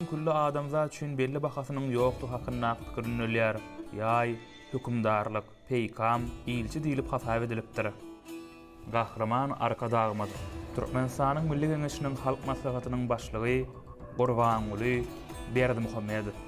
Külli adamzat üçin belli bahasynyň ýokdugy hakyndaky pikir ündelýär. Ýaý, hökümdarlyk, peýkam, ilçi diýlip hasap edilipdir. Gahryman Arkadagymyz, Türkmenistanyň Milli Geňeşiniň Halk Maslahatynyň Başlygy Gurbanguly Berdimuhamedow.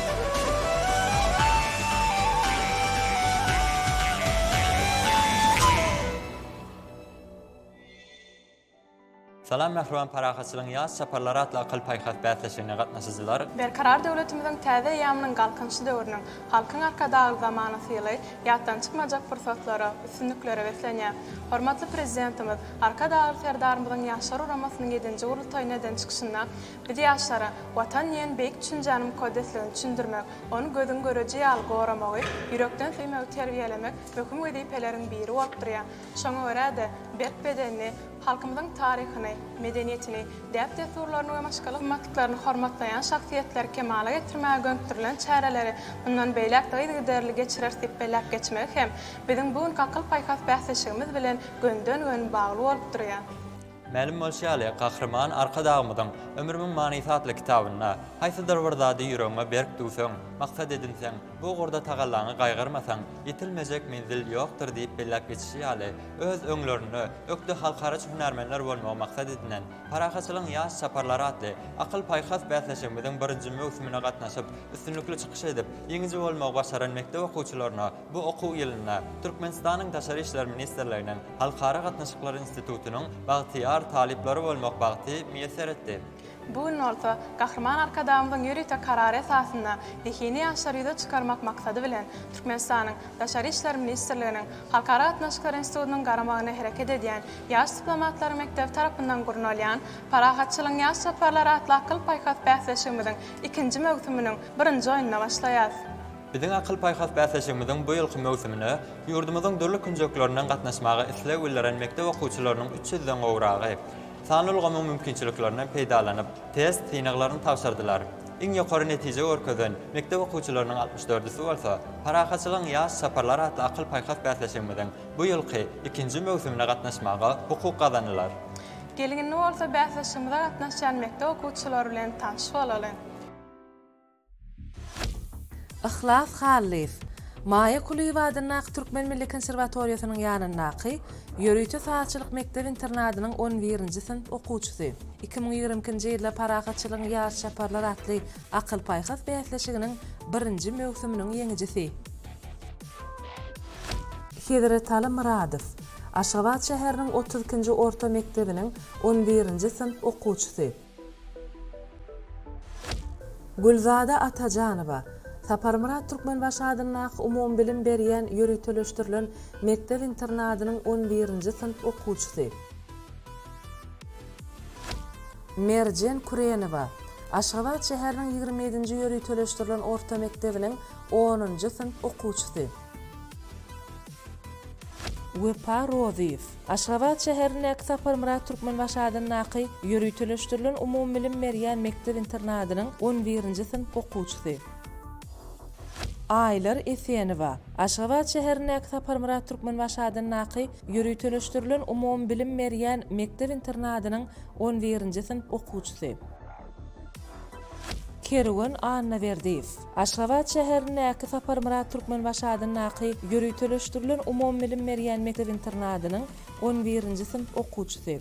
Salam Mähriban parahatçylygyň ýaz çaparlary atly akyl-paýhas bäsleşigine gatnaşyjylar! Berkarar döwletimiziň täze eýýamynyň Galkynyşy döwrüniň Halkyň Arkadagly zamanasy ýyly ýatdan çykmajak pursatlara, üstünliklere beslenýär. Hormatly Prezidentimiz, Arkadagly Serdarymyzyň Ýaşlar guramasynyň ýedinji gurultaýyna eden çykyşynda, Biz ýaşlara Watan diýen beýik düşünjäni mukaddesligini düşündirmek, ony gözüň göreji ýaly goramagy, ýürekden söýmegi terbiýelemek möhüm wezipeleriň biri bolup durýar. Şoňa görä-de, berk bedenli, halkymyzyň taryhyny, medeniýetini, däp-dessurlaryny we başga gymmatlyklaryny hormatlaýan şahsyýetleri kemala getirmäge gönükdirilen çäreleri mundan beýläk-de yzygiderli geçireris diýip belläp geçmegi hem biziň bu günki akyl-paýhas bäsleşigimiz bilen göni-den-göni bagly bolup durýar. Mälim bolşy ýaly, Gahryman Arkadagymyzyň Ömrümiň manysy atly kitabynda, Haýsydyr bir zady ýüregiňe berk düwseň, maksat edinseň, bu ugurda tagallaňy gaýgyrmasaň, ýetilmejek menzil ýokdur diýip belläp geçişi ýaly, öz öňlerinde ökde halkaraç hünärmenler bolmagy maksat edinen Parahatçylygyň ýaş çaparlary atly akyl-paýhas bäsleşigimiziň birinji möwsümine gatnaşyp, üstünlikli çykyş edip, ýeňiji bolmagy başaran mekdep okuwçylaryna Bu okuw ýylynda Türkmenistanyň Daşary işler ministrliginiň Halkara gatnaşyklary institutynyň bagtyýar talyplary bolmak bagty miýesser etdi. Bu gün bolsa Gahryman Arkadagymyzyň ýörite Karary esasynda zehini ýaşlary ýüze çykarmak maksady bilen Türkmenistanyň Daşary işler ministrliginiň Halkara gatnaşyklary institutynyň garamagynda hereket edýän Ýaş diplomatlaryň mekdebi tarapyndan gurnalýan Parahatçylygyň ýaş toparlary atly akyl-paýhas bäsleşigimiziň ikinji möwsüminiň birinji oýnuna başlaýarys. Biziň Akyl-paýhas bäsleşigimiziň bu ýylky möwsümine ýurdumyzyň dürli künjeklerinden gatnaşmaga isleg bildiren mekdep okuwçylarynyň üç ýüzden gowragy, sanly ulgamyň mümkinçiliklerinden peýdalanyp, test synaglaryny tabşyrdylar. Iň ýokary netije görkezen mekdep okuwçylarynyň altmyş dördüsi bolsa, Parahatçylygyň ýaş çaparlary atly akyl-paýhas bäsleşigimiziň bu ýylky ikinji möwsümine gatnaşmaga hukuk gazandylar. Geliň, indi bolsa bäsleşigimize gatnaşýan mekdep okuwçylary bilen tanyş bolalyň. Yhlas Hallyýew, Maýa Kulyýewa adyndaky Türkmen milli konserwatoriýasynyň ýanyndaky ýörite sazçylyk mekdep-internadynyň on birinji synp okuwçysy, iki müň ýigrimi ikinji ýylda Parahatçylygyň ýaş çaparlar atly akyl-paýhas bäsleşiginiň birinji möwsüminiň ýeňijisi. Hezretaly Myradow, Aşgabat şäheriniň otuz ikinji orta mekdebiniň on birinji synp okuwçysy. Gülzada Atajanowa, Saparmyrat Türkmenbaşy adyndaky umumybilim berýän ýöriteleşdirilen mekdep-internadynyň on birinji synp okuwçysy. Merjen Kürenowa, Aşgabat şäheriniň ýigrimi ýedinji ýöriteleşdirilen orta mekdebiniň onunjy synp okuwçysy. Wepa Rozyýew, Aşgabat şäherindäki Saparmyrat Türkmenbaşy adyndaky ýöriteleşdirilen umumybilim berýän mekdep-internadynyň on birinji synp okuwçysy. Aýlar Esenowa, Aşgabat şäherindäki Saparmyrat Türkmenbaşy adyndaky ýöriteleşdirilen umumybilim berýän mekdep-internadynyň on birinji synp okuwçysy. Kerwen Annaberdiýew. Aşgabat şäherindäki Saparmyrat Türkmenbaşy adyndaky ýöriteleşdirilen umumybilim berýän mekdep-internadynyň on birinji synp okuwçysy.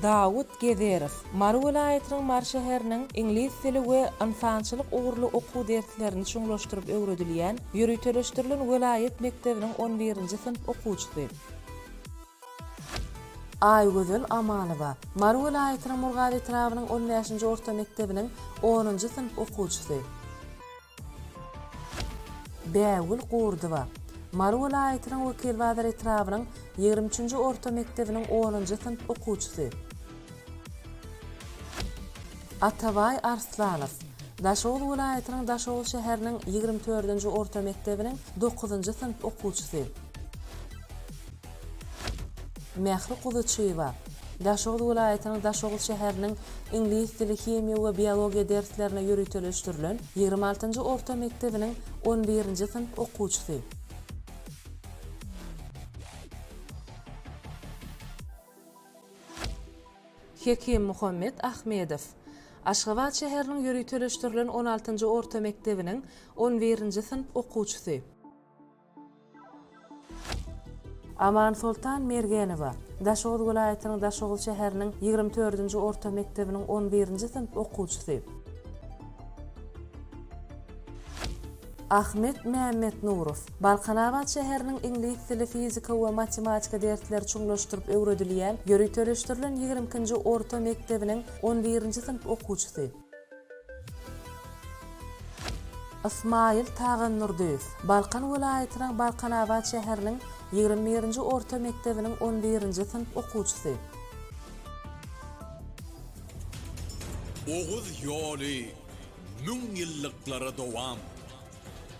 Dawut Gezerow, Mary welaýatynyň Mary şäheriniň iňlis dili we ynsançylyk ugurly okuw derslerini çuňlaşdyryp öwredilýän ýöriteleşdirilen welaýat mekdebiniň on birinji synp okuwçysy. Aýgözel Amanowa, Mary welaýatynyň Murgap etrabynyň on bäşinji orta mekdebiniň onunjy synp okuwçysy. Bägül Gurdowa, Mary welaýatynyň Wekilbazar etrabynyň ýigrimi üçünji orta mekdebiniň onunjy synp okuwçysy. Atabaý Arslanow, Daşoguz welaýatynyň Daşoguz şäheriniň ýigrimi dördünji orta mekdebiniň dokuzynjy synp okuwçysy. Mähri Kuzuçyýewa, Daşoguz welaýatynyň Daşoguz şäheriniň iňlis dili, himiýa we biologiýa derslerine ýöriteleşdirilen ýigrimi altynjy orta mekdebiniň on birinji synp okuwçysy. Hekim Muhammet Ahmedow, Aşgabat şäheriniň ýöriteleşdirilen on altynjy orta mekdebiniň on birinji synp okuwçysy. Amansoltan Mergenowa, Daşoguz welaýatynyň Daşoguz şäheriniň ýigrimi dördünji orta mekdebiniň on birinji synp okuwçysy. Ahmet Mämmetnurow, Balkanabat şäheriniň iňlis dili, fizika we matematika dersleri çuňlaşdyryp öwredilýän ýöriteleşdirilen ýigrimi ikinji orta mekdebiniň on birinji synp okuwçysy. Ysmaýyl Tagandurdyýew, Balkan welaýatynyň Balkanabat şäheriniň ýigrimi birinji orta mekdebiniň on birinji synp okuwçysy. Oguz ýoly müň ýyllyklara dowam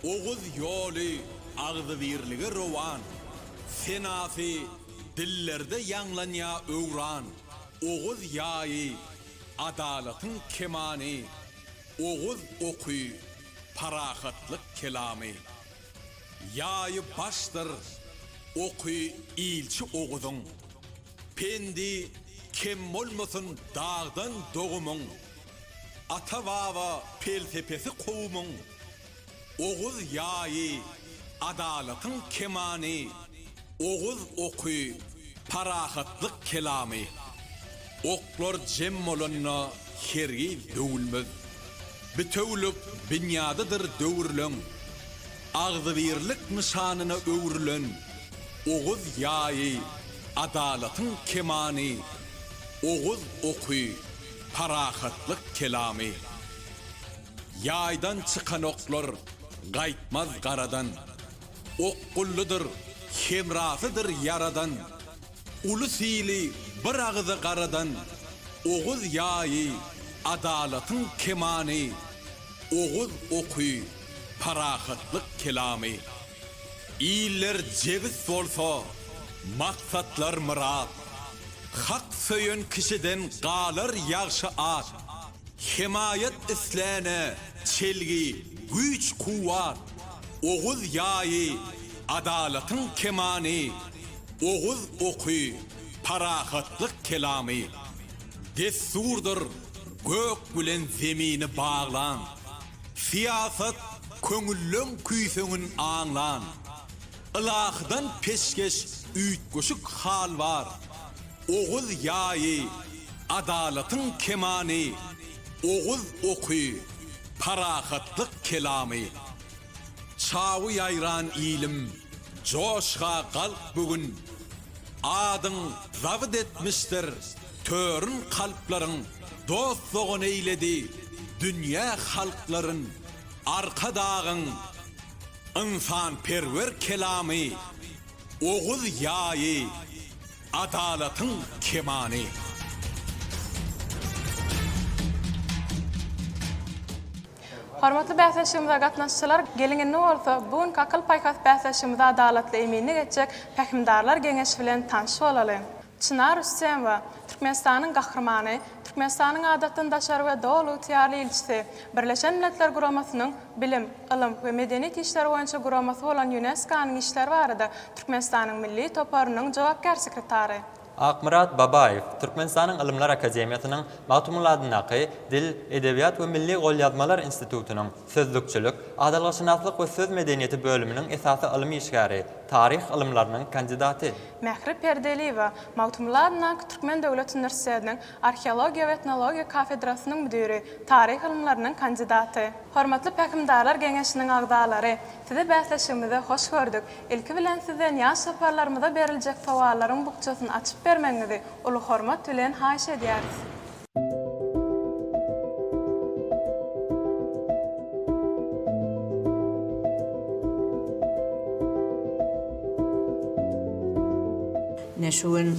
Oguz ýoly agzybirlige rowan Senasy dillerde ýaňlanýa öwran Oguz ýaýy Adalatyň kemany, oguz oky, parahatlyk kelamy. Ýaýy başdyr, oky ilçi Oguzyň. Pendi kem bolmasyn dagdan dogumyň. Ata-baba pelsepesi kowumyň. Oguz ýaýy, adalatyň kemany, Oguz oky, parahatlyk kelamy. Oklar jem bolanda hergiz döwülmez, Bitewülik binýadydyr döwrüleň. Agzybirlik nyşanyna öwrülen Oguz ýaýy, adalatyň kemany, Oguz oky, parahatlyk kelamy. Ýaýdan çykan oklar gaýtmaz garadan, Ok gulludyr, hemrasydyr ýaradan, Uly syly bir agyza garadan, Oguz ýaýy, adalatyň kemany, Oguz oky, parahatlyk kelamy. Iller jebis bolsa, maksatlar myrat, Hak söýen kişiden galar ýagşy at. Hemaýat isläne çelgi, güýç-kuwwat, Oguz ýaýy, adalatyň kemany, Oguz oky, parahatlyk kelamy. Dessurdyr gök bilen zemini baglan, Syýasat köňülleň küýseňin aňlan. Ylahydan peşgeş üýtgeşik hal bar, Oguz ýaýy, adalatyň kemany, Oguz oky, parahatlyk kelamy. Çawy ýaýran ilim, joşga galk bu gün, Adyň zabyt etmişdir törün kalplaryň, Dost-dogan eýledi dünýä halklaryn, Arkadagyň ynsanperwer kelamy. Oguz ýaýy. Adalatyň kemany. Hormatly bäsleşigimize gatnaşyjylar, geliň indi bolsa bu günki akyl-paýhas bäsleşigimizi adalatly eminlik etjek Pähimdarlar geňeşi bilen tanş bolalyň. Çynar Rüstemowa, Türkmenistanyň Gahrymany, Türkmenistanyň Adatdan daşary we Doly ygtyýarly ilçisi, Birleşen Milletler Guramasynyň Bilim, ylym we medeniýet işleri boýunça guramasy bolan Ýunesko-nyň işleri barada Türkmenistanyň Milli toparynyň jogapkär sekretary. Akmyrat Babaýew Türkmenistanyň Ylymlar akademiýasynyň Magtymguly adyndaky Dil, edebiýat we milli golýazmalar institutynyň Sözlükçilik, adalgaşynaslyk we söz medeniýeti bölüminiň esasy ylym işgäri, taryh ylymlarynyň kandidaty. Mähri Perdeliýewa Magtymguly adyndaky Türkmen döwlet uniwersitetiniň Arheologiýa we etnologiýa kafedrasynyň müdiri, taryh ylymlarynyň kandidaty. Hormatly Pähimdarlar geňeşiniň agzalary! Sizi bäsleşigimize hoş gördük. Ilki bilen sizden ýaş toparlarymyza beriljek sowallaryň bukjasyny açyp bermegiňizi uly hormat bilen haýyş edýäris. Ine şu gün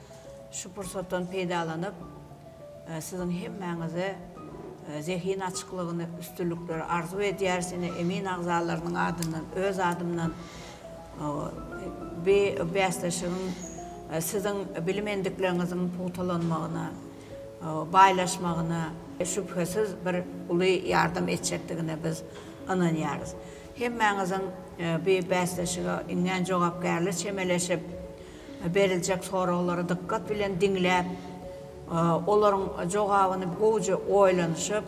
Şu pursatdan peýdalanyp, siziň hemmäňize zehin açyklygyny, üstünlikleri arzuw edýäris. Ine, emin agzalarynyň adyndan, öz adymdan bi bäsleşigiň siziň bilim endikleriňiziň pugtalanmagyna, baýlaşmagyna, şübhesiz, bir uly ýardam etjekdigine biz ynanýarys. Hemmäňiziň bi bäsleşige iňňän jogapkärli çemeleşip, Beriljek soraglary dykgat bilen diňläp, olaryň jogabyny gowuja oýlanyşyp,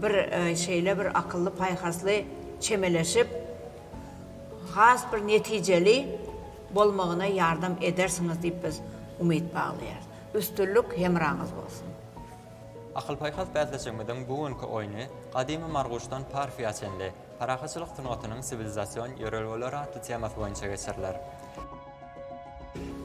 bir şeýle bir akylly-paýhasly çemeleşip, has bir netijeli bolmagyna ýardam edersiňiz diýip biz umyt baglaýarys. Üstünlik hemraňyz bolsun! Akyl-paýhas bäsleşigimiziň bu günki oýny Gadymy Marguşdan Parfiýa çenli, Parahatçylyk sungatynyň siwilizasion ýörelgeleri atly temasy boýunça geçiriler.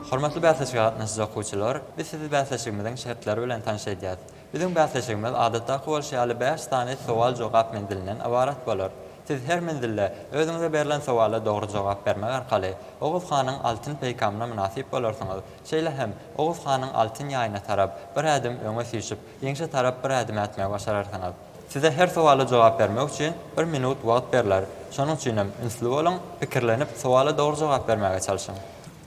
Hormatly bäsleşige gatnaşyjy okuwçylar, biz sizi bäsleşigimiziň şertleri bilen tanyş edýäs. Biziň bäsleşigimiz adatdaky bolşy ýaly bäş sany sowal-jogap menzilinden ybarat bolar. Siz her menzilde özüňize berlen sowala dogry jogap bermek arkaly Oguz hanyň altyn peýkamyna mynasyp bolarsyňyz. Şeýle hem Oguz hanyň altyn ýaýyna tarap bir ädim öňe süýşüp, ýeňşe tarap bir ädim ätmegi başararsyňyz. Size her sowala jogap bermek üçin bir minut wagt berler. Şonuň üçinem ünsli boluň, pikirlenip, sowala dogry jogap bermäge çalşyň.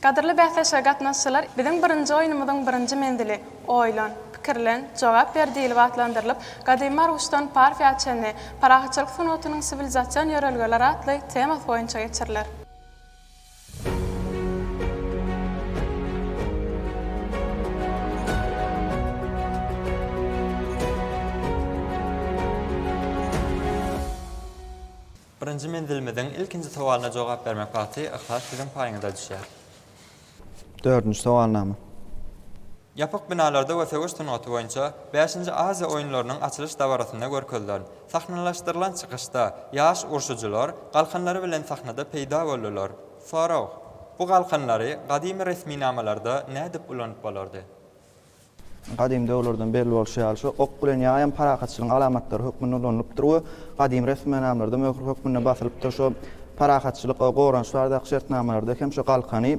Gadyrly bäsleşige gatnaşyjylar, biziň birinji oýnumyzyň birinji menzili, Oýlan, pikirlen, jogap ber diýlip atlandyrylyp, Gadymy Marguşdan Parfiýa çenli, Parahatçylyk sungatynyň siwilizasion ýörelgeleri atly temasy boýunça geçiriler. Birinji menzilimiziň ilkinji sowalyna jogap bermek bagty Yhlas siziň paýyňyza düşýär. Dördünji sowalnama. Ýapyk binalarda we söweş sungaty boýunça bäşinji Aziýa oýunlarynyň açylyş dabarasynda görkezilen, sahnalaşdyrylan çykyşda ýaş urşujylar galkanlary bilen sahnada peýda boldular. Sorag, Bu galkanlary gadymy resminamalarda nädip ulanyp bolardy? Gadymy döwürlerden belli bolşy ýaly, şu ok bilen ýaý hem parahatçylygyň alamatlary hökmünde ulanylypdyr we gadymy resminamalarda möhür hökmünde basylypdyr. Şu parahatçylyk we goranyş baradaky şertnamalarda hem şu galkany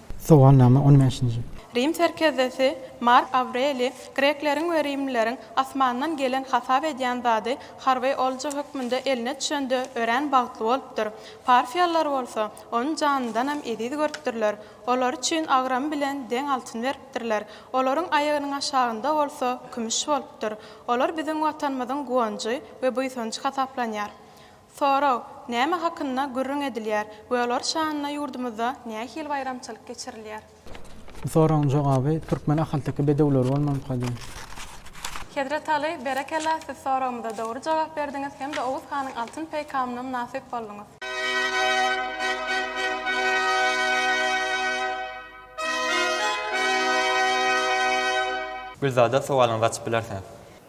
Sowalnama on bäşinji. Rim serkerdesi Mark Awreliý grekleriň we rimlileriň asmandan gelen hasap edýän zady harby olja hökmünde eline düşende örän bagtly bolupdyr. Parfiýalylar bolsa, ony janyndanam eziz görüpdirler. Olary üçin agramy bilen deň altyn beripdirler. Olaryň aýagynyň aşagynda bolsa kümüş bolupdyr. Olar biziň Watanymyzyň guwanjy we buýsanjy hasaplanýar. Sorag, Näme hakynda gürrüň edilýär we olar şanyna ýurdumyzda nähili baýramçylyk geçirilýär? Bu soragyň jogaby türkmen ahalteke bedewleri bolmalykadyr. Hezret Aly, berekella, siz soragymyza dogry jogap berdiňiz hem-de Oguz hanyň altyn peýkamyna mynasyp bolduňyz. Gülzada sowalyňyzy açyp bilersiňiz.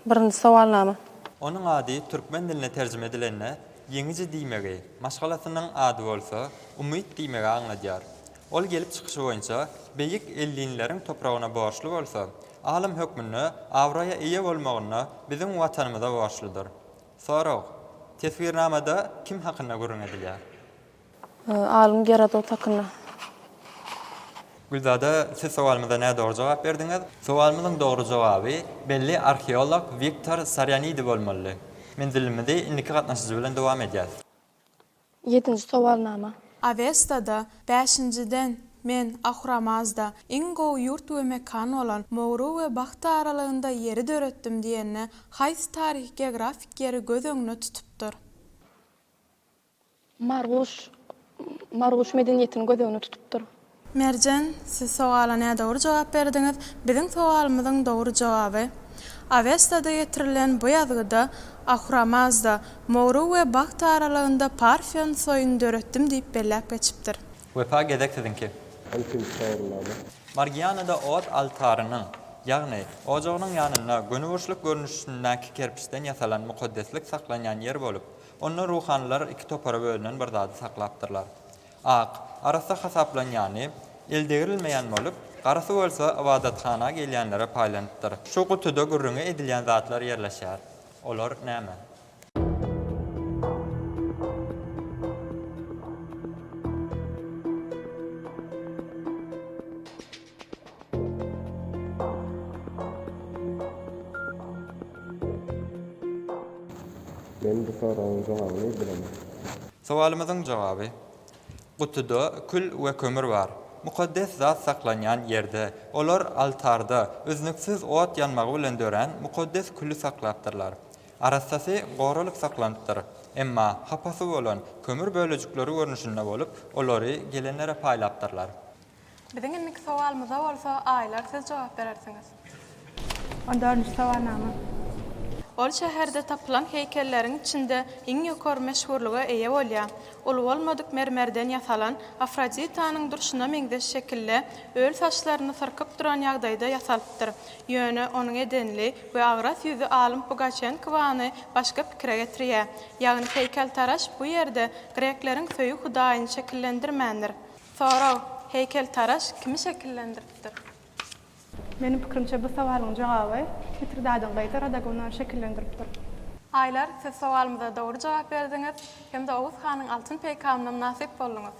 Birinji sowalnama. Onuň ady türkmen diline terjime edilende Ýeňiji diýmegi, maşgalasynyň ady bolsa Umyt diýmegi aňladýar. Ol gelip çykyşy boýunça beýik ellinleriň topragyna borçly bolsa, alym hökmünde abraýa eýe bolmagynda biziň Watanymyza borçludyr. Sorag. Teswirnamada kim hakynda gürrüň edilýär? Alym Gerodot hakynda. Gülzada, siz sowalymyza nädogry jogap berdiňiz. Sowalymyzyň dogry jogaby belli arheolog Wiktor Sarianidi bolmalydy. Menzilimizi indiki gatnaşyjy bilen dowam edýäs. Ýedinji sowalnama. Awestada, bäşinjiden, men, Ahuramazda, iň gowy ýurt we mekan bolan Mowru we Bahta aralygynda ýeri döretdim diýende, haýsy taryhy-geografik ýeri göz öňüne tutupdyr? Marguş Marguş medeniýetini göz öňüne tutupdyr. Merjen, siz sowala nädogry jogap berdiňiz. Biziň sowalymyzyň dogry jogaby, Awestada getirilen bu ýazgyda Ahuramazda, Mowru we Bagt aralygynda Parfion soýuny döretdim diýip belläp geçipdir. Wepa gezek siziňki. Ilkinji sorulany. Margianada ot altarynyň, ýagny, ojagynyň ýanynda göni burçluk görnüşindäki kerpiçden ýasalan mukaddeslik saklanýan ýer bolup, Onda ruhanylar iki topara bölünen bir zady saklapdyrlar. Ak, arassa hasaplanýany, eldegrilmeýän bolup, garasy bolsa ybadathana gelýänlere paýlanypdyr. Şu gutuda gürrüňi edilýän zatlar ýerleşýär. Olar näme? Men bu soragyň jogabyny bilemen. Sowalymyzyň jogaby, Gutuda kül we kömür bar. Mukaddes zat saklanýan ýerde, olar altarda üznüksiz ot ýanmagy bilen dörän mukaddes küli saklapdyrlar. Arassasy goralyp saklanypdyr. Emma hapasy bolan kömür bölejikleri görnüşinde bolup, olary gelenlere paýlapdyrlar. Biziň indiki sowalymyza bolsa aýlar siz jogap berersiňiz. On dördünji sowalnama. Ol şäherde tapylan heýkelleriň içinde iň ýokary meşhurlyga eýe bolýar. Uly bolmadyk mermerden ýasalan, Afroditanyň durşuna meňzeş şekilde, öl saçlaryny syrkyp duran ýagdaýda ýasalypdyr. Ýöne onuň edenli we agras ýüzi alym Pugaçenkowany başga pikire getirýär. Ýagny heýkeltaraş bu ýerde grekleriň söýgi hudaýyny şekillendirmändir. Sorag, Heýkeltaraş kimi şekillendiripdir? Meniň pikirimçe bu sowalyň jogaby Mitridadyň gyzy Radagona şekillendiripdir. Aýlar, siz sowalymyza dogry jogap berdiňiz hem-de Oguz hanyň altyn peýkamyna mynasyp bolduňyz.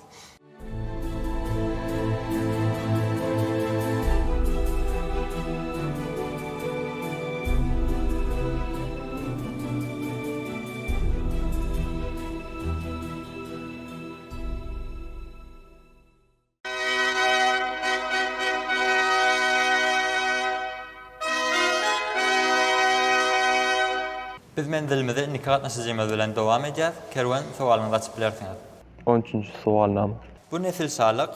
Biz menzilimize indiki gatnaşyjymyz bilen dowam edýäs, Kerwen sowalyňy gaçyp bilersiňiz. On üçünji sowalnama. Bu nesilşalyk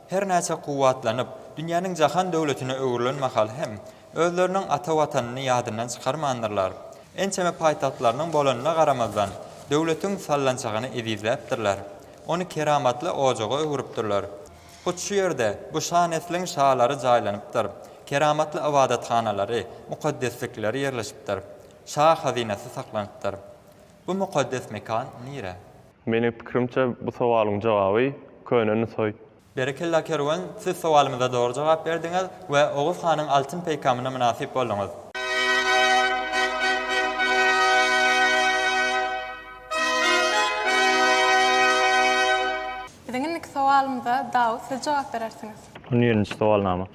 her näçe kuwwatlanyp, dünýäniň jahan döwletine öwrülen mahal hem Özleriniň ata Watanyny ýadyndan çykarmandyrlar. Ençeme paýtagtlarynyň bolanyna garamazdan, döwletiň sallançagyny ezizläpdirler. Ony keramatly ojaga öwrüpdirler. Hut şu ýerde bu şa nesliň şalary jaýlanypdyr, keramatly ybadathanalary, mukaddeslikleri ýerleşipdir, şa hazynasy saklanypdyr. Bu mukaddes mekan nire? Meniň pikirimçe, bu sowalyň jogaby, köne Nusaý. Berekella Kerwen siz sowalymyza dogry jogap berdiňiz we Oguz hanyň altyn peýkamyna mynasyp bolduňyz. Biziň indiki sowalymyza Dawut siz jogap berersiňiz. On birinji sowalnama.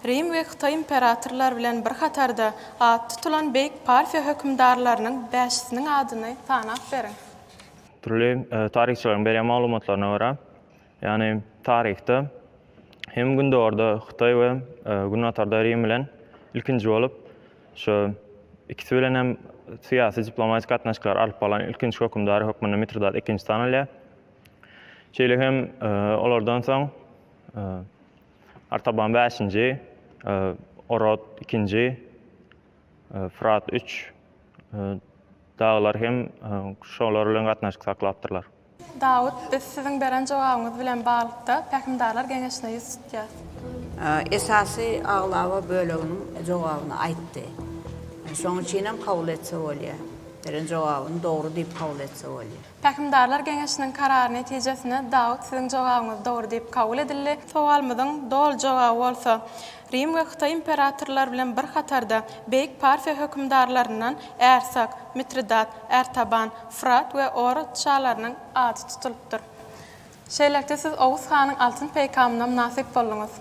Rim we Hytaý imperatorlary bilen bir hatarda at tutulan beýik Parfiýa hökümdarlarynyň bäşisiniň adyny sanap beriň. Dürli taryhçylaryň berýän maglumatlaryna görä, Ýagny taryhda hem gündogarda Hytaý we günbatarda Rim bilen ilkinji bolup şu ikisi bilen hem syýasy diplomatik gatnaşyklar alyp barlan ilkinji hökümdary hökmünde Mitridat ikinji tanalýar. Şeýle hem olardan soň Artaban bäşinji, Orod ikinji, Fyrat üç daglar hem şolar bilen gatnaşyk saklapdyrlar. Dawut, biz siziň beren jogabyňyz bilen baglykda Pähimdarlar geňeşine ýüz tutýas. Esasy aglaba böleginiň jogabyny aýtdy. Şoň üçinem kabul etse bolýa. Beren jogabyny dogry diýip kabul etse bolýa. Pähimdarlar geňeşiniň karary netijesinde Dawut siziň jogabyňyz dogry diýip kabul edildi. Sowalymyzyň doly jogaby bolsa. Rim we Hytaý imperatorlary bilen bir hatarda beýik Parfiýa hökümdarlaryndan Ärsak, Mitridat, Ärtaban, Fyrat we Orod şalarynyň ady tutulypdyr. Şeýlelikde siz Oguz hanyň altyn peýkamyna mynasyp bolduňyz.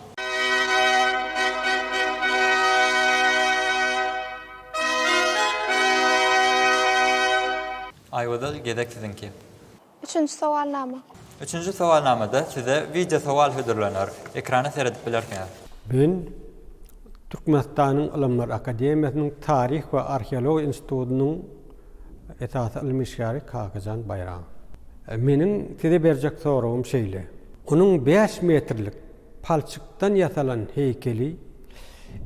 Aýwazal gezek siziňki. Üçünji sowalnama. Üçünji sowalnamada size wideo sowal hödürlener. Ekrana seredip bilersiňiz. Men Türkmenistanyň Ylymlar akademiýasynyň Taryh we arheologiýa institutynyň esasy ylmy işgäri Kakajan Baýramow. Meniň size berjek soragym şeýle. Onuň bäş metrlik Palçykdan ýasalan heýkeli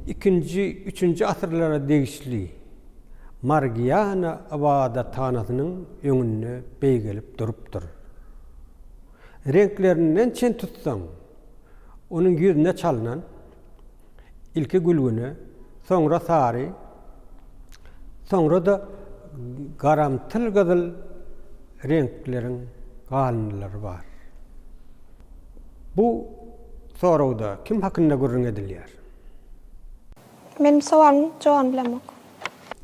ikinji, üçünji asyrlara degişli Margiana ybadathanasynyň öňünde beýgelip durupdyr. Reňklerinden çen tutsaň, onuň ýüzüne çalnan, Ilki gülgüne, soňra sary, soňra-da garamtyl gyzyl reňkleriň galyndylary bar. Bu soragda kim hakynda gürrüň edilýär? Meniň sowalyň jogabyny bilemok.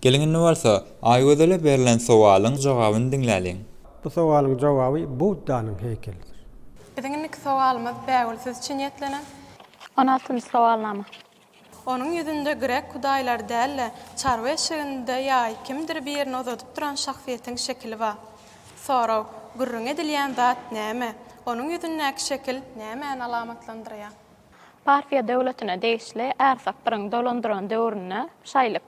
Geliň indi bolsa, Aýgözele berlen sowalyň jogabyny diňläliň. Bu sowalyň jogaby Buddanyň heýkelidir. Biziň indiki sowalymyz, Bägül, siz üçin niýetlenen. On altynjy sowalnama. Onuň ýüzünde grek hudaýlary däl-de, çarwa eşeginde ýaý kimdir birini uzadyp duran şahsyýetiň şekili bar. Sorag, Gürrüň edilýän zat näme? Onuň ýüzündäki şekil nämäni alamatlandyrýar? Parfiýa döwletine degişli Ärsakbyryň dolandyran döwründe şaýlyk.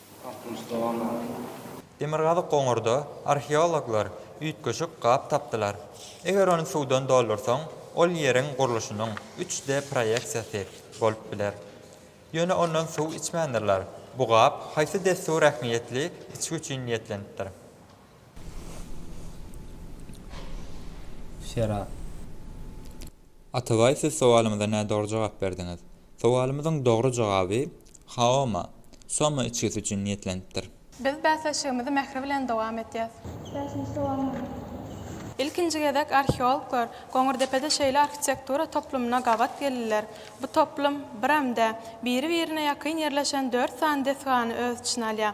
Demirgazyk goňurda arheologlar üýtgeşik gap tapdylar. Eger ony suwdan doldursaň, ol ýeriň gurluşynyň üç D proýeksiýasy bolup biler. Ýöne ondan suw içmändirler. Bu gap haýsy dessur ähmiýetli içgi üçin niýetlenipdir? Şerap. Atabaý siz sowalymyza nädogry jogap berdiňiz. Sowalymyzyň dogry jogaby Haoma, Soma içgisi üçin niýetlenipdir. Biz bäsleşigimizi Mähri bilen dowam etýäs. Bäşinji sowal maňa berlipdir. Ilkinji gezek arheologlar Goňurdepede şeýle arhitektura toplumyna gabat geldiler. Bu toplum, birem-de, biri-birine ýakyn ýerleşen dört sany desgany öz içine alýar.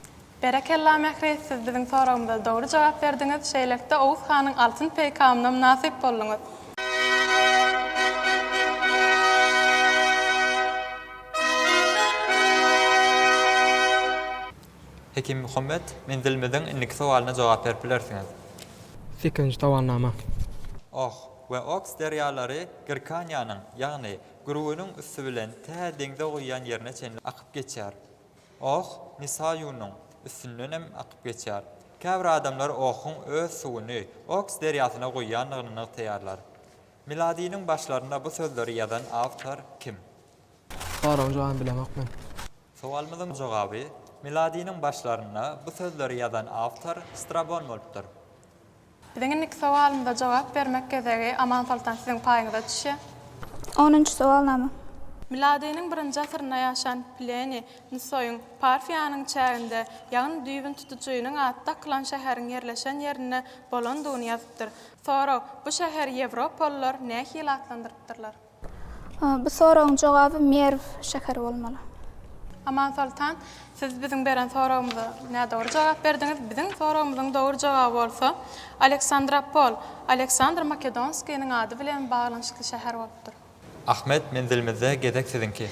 Berekella Mähri, siz biziň soragymyza dogry jogap berdiňiz, şeýlelikde Oguz hanyň altyn peýkamyna mynasyp bolduňyz. Hekimmuhammet, men bilmedim, indiki sowalyna jogap berip bilersiňiz. Sekizinji sowalnama. Ox we Oks derýalary Girkaniýanyň, ýagny Gürgeniň üsti bilen tä deňze guýýan ýerine çenli akyp geçýär. Oh, Misaýunyň üstündenem akyp geçýär. Käbir adamlar Ohuň öz suwuny Oks derýasyna guýýandygyny nygtaýarlar. Miladynyň başlarynda bu sözleri ýazan awtor kim? Soragyň jogabyny bilemok men. Sowalymyzyň jogaby, Miladynyň başlarynda bu sözleri ýazan awtor Strabon bolupdyr. Biziň indiki sowalymyza jogap bermek gezegi Amansoltan siziň paýyňyza düşýär. Onunjy sowalnama. Miladynyň birinji asyrynda ýaşan Pleniý Nusoýyň Parfiýanyň çäginde, ýagny düýbüni tutujynyň ady dakylan şäheriň ýerleşen ýerinde bolandygyny ýazypdyr. Sorag, Bu şäheri ýewropalylar nähili atlandyrypdyrlar? Bu soragyň jogaby Merw şäheri bolmaly. Amansoltan, siz biziň beren soragymyza nädogry jogap berdiňiz. Biziň soragymyzyň dogry jogaby bolsa Aleksandropol, Aleksandr Makedonskiniň ady bilen baglanyşykly şäher bolupdyr. Ahmet, menzilimizde gezek siziňki.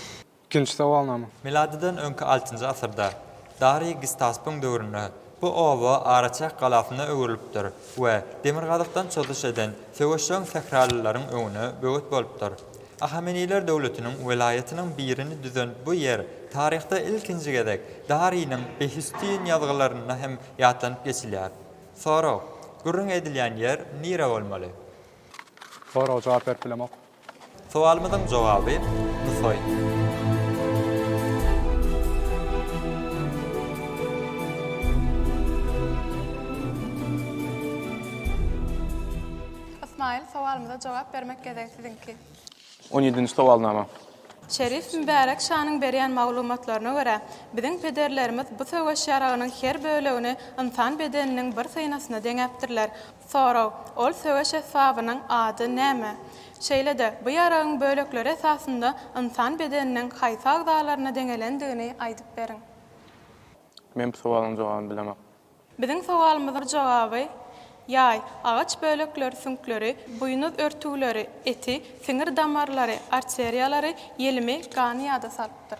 Ikinji sowalnama. Miladydan öňki altynjy asyrda, Dariý Gistaspyň döwründe, bu oba araçäk galasyna öwrülipdir we demirgazykdan çozuş eden söweşjeň sähralylaryň öňüne böwet bolupdyr. Ahameniler döwletiniň welaýatynyň birini düzen bu ýer taryhda ilkinji gezek Dariýniň Behistýin ýazgylarynda hem ýatlanyp geçilýär. Sorag, Gürrüň edilýän ýer nire bolmaly? Soraga jogap berip bilemok. Sowalymyzyň jogaby, Nusaý. Ysmaýyl, sowalymyza jogap bermek gezegi siziňki. On ýedinji sowalnama. Şerif Mübärek şanyň berýän maglumatlaryna görä, biziň pederlerimiz bu söweş ýaragynyň her bölegini ynsan bedeniniň bir synasyna deňäpdirler. Sorag, Ol söweş esbabynyň ady näme? Şeýle-de, bu ýaragyň bölekleri esasynda ynsan bedeniniň haýsy agzalaryna deňelendigini aýdyp beriň. Men bu sowalyň jogabyny bilemok. Biziň sowalymyzyň jogaby, Ýaý, agaç bölekleri süňkleri, buýnuz örtügleri, eti, siňir damarlary, arteriýalary, ýelimi, gany ýada salypdyr.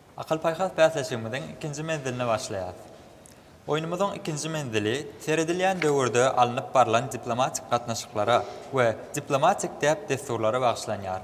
Akyl-paýhas bäsleşigimiziň ikinji menziline başlaýarys. Oýnumyzyň ikinji menzili seredilýän döwürde alnyp barlan diplomatik gatnaşyklara we diplomatik däp-dessurlara bagyşlanýar.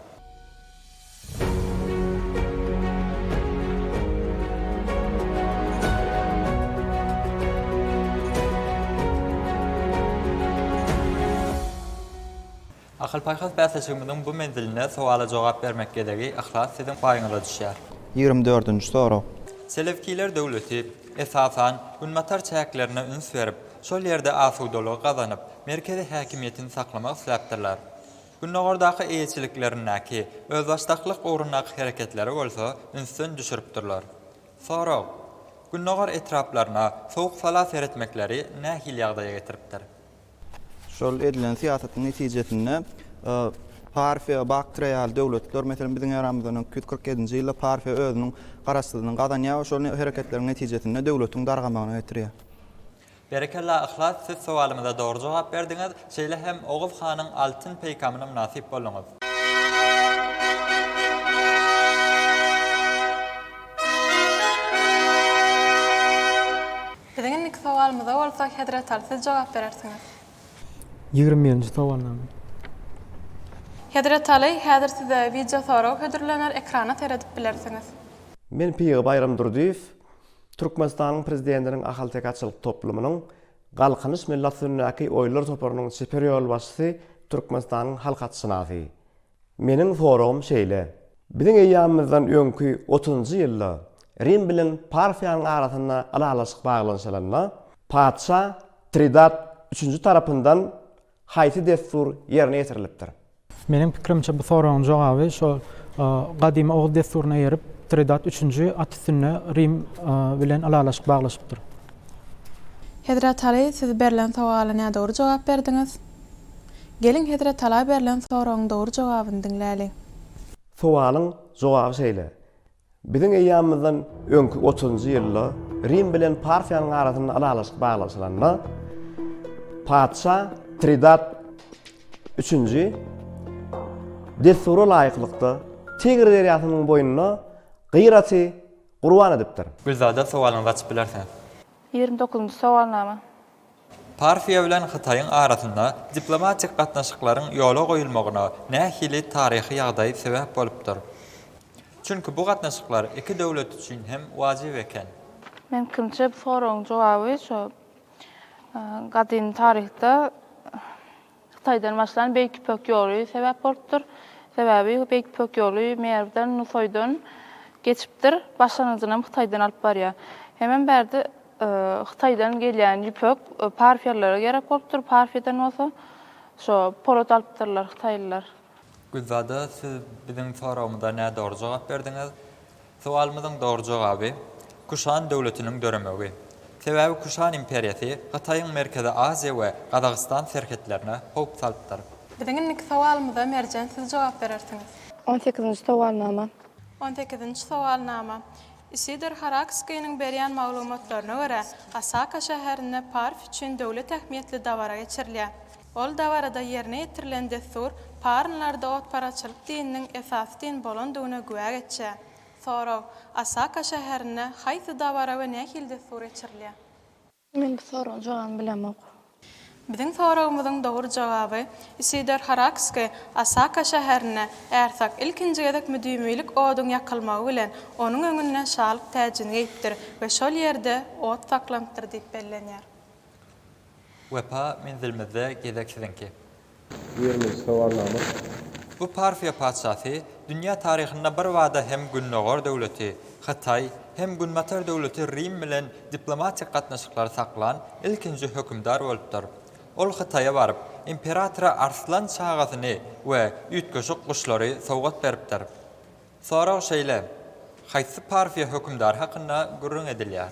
Akyl-paýhas bäsleşigimiziň bu menzilinde sowala jogap bermek gezegi yhlas siziň paýyňyza düşýär. Ýigrimi dördünji sorag. Selewkiler döwleti, esasan, günbatar çäklerine üns berip, şol ýerde asudalygy gazanyp, merkezi häkimiýetini saklamak isläpdirler. Gündogardaky eýeçiliklerindäki özbaşdaklyk ugrundaky hereketleri bolsa ünsden düşüripdirler. Sorag. Gündogar etraplaryna sowuk-sala seretmekleri nähili ýagdaýa getiripdir? Şol edilen syýasatyň netijesinde Parfiýa, Baktriýa ýaly döwletler, meselem, biziň eramyzdan öňki ýüz kyrk ýedinji ýylda Parfiýa özüniň garaşsyzlygyny gazanýar we şol hereketleriň netijesinde döwletiň dargamagyna getirýär. Berekella Yhlas siz sowalymyza dogry jogap berdiňiz, şeýle hem Oguz hanyň altyn peýkamyna mynasyp bolduňyz. Biziň indiki sowalymyza bolsa Hezretal siz jogap berersiňiz. Ýigrimi birinji sowalnama. Hezretaly, häzir size wideo sorag hödürlener, ekrana seredip bilersiňiz. Men Pygy Baýram Durdyýew, Türkmenistanyň Prezidentiniň Ahalteke-atçylyk toplumynyň Galkynyş millat üstündäki oýlar toparynyň çeper ýolbaşçysy, Türkmenistanyň halk atşynasy. Meniň soragym şeýle, biziň eýýamymyzdan öňki otuzynjy ýylda Rim bilen Parfiýanyň arasynda ylalaşyk baglanyşylanda, patyşa Tridat üçünji tarapyndan haýsy dessur ýerine ýetirilipdir? Meniň pikirimçe, bu soragyň jogaby şol gadymy oguz dessuryna eýerip, Tridat üçünji at üstünde Rim bilen ylalaşyk baglaşypdyr. Hezret Aly, siz berlen sowala nädogry jogap berdiňiz. Geliň hezretala berlen soragyň dogry jogabyny diňläliň. Sowalyň jogaby şeýle, Biziň eýýamymyzdan öňki otuzynjy ýylda Rim bilen Parfiýanyň arasynda ylalaşyk baglaşylanda, patyşa Tridat üçünji dessura laýyklykda Tigr derýasynyň boýunda gyýraty gurban edipdir. Gülzada sowalyňyzy açyp bilersiňiz. Ýigrimi dokuzynjy sowalnama. Parfiýa bilen Hytaýyň arasynda diplomatik gatnaşyklaryň ýola goýulmagyna nähili taryhy ýagdaý sebäp bolupdyr? Çünki bu gatnaşyklar iki döwlet üçin hem wajyp eken. Meniň pikimçe, bu soragyň jogaby şu gadymy taryhda Hytaýdan başlan Beýik Ýüpek ýoly sebäp bolupdyr. Sebäbi Beýik Ýüpek ýoly Merwden, Nusaýdan geçipdir. Başlangyjynam Hytaýdan alyp barýar. Hemem bärde Hytaýdan gelýän ýüpek parfiýalylara gerek bolupdyr. Parfiýadan bolsa şo polat alypdyrlar hytaýlylar. Güzada siz biziň soragymyza nädogry jogap berdiňiz. Sowalymyzyň dogry jogaby, Kuşan döwletiniň döremegi. Sebäbi Kuşan imperiýasy Hytaýyň Merkezi Aziýa we Gazagystan serhetlerine howp salypdyr. Biziň indiki sowalymyza Merjen siz jogap berersiňiz. On sekizinji sowalnama. On sekizinji sowalnama. Isidor Harakskiniň berýän maglumatlaryna görä, Osaka şäherinde Parf üçin döwlet ähmiýetli dabara geçirilýär. Ol dabarada ýerine ýetirilen dessur parnlarda otparaçylyk dininiň esasy din bolandygyna güwä geçýär. Sorag, Osaka şäherinde haýsy dabara we nähili dessur geçirilýär? Men bu soragyň jogabyny bilemok. Biziň soragymyzyň dogry jogaby, Isidor Harakski Osaka şäherinde ärsakk ilkinji gezek müdimilik oduň ýakylmagy bilen onuň öňünde şalyk täjini geýipdir we şol ýerde ot saklanypdyr diýip bellenýär. Wepa menzilimizde gezek siziňki. Ýerimiz sowalnamat. Bu Parfiýa patyşasy dünýä taryhynda birbada hem Gündogar döwleti, Hytaý, hem Günbatar döwleti Rim bilen diplomatik gatnaşyklary saklan ilkinji hökümdar bolupdyr. Ol Hytaýa baryp, imperatora arslan çagasyny we üýtgeşik guşlary sowgat beripdir. Sorag şeýle, Haýsy Parfiýa hökümdary hakynda gürrüň edilýär?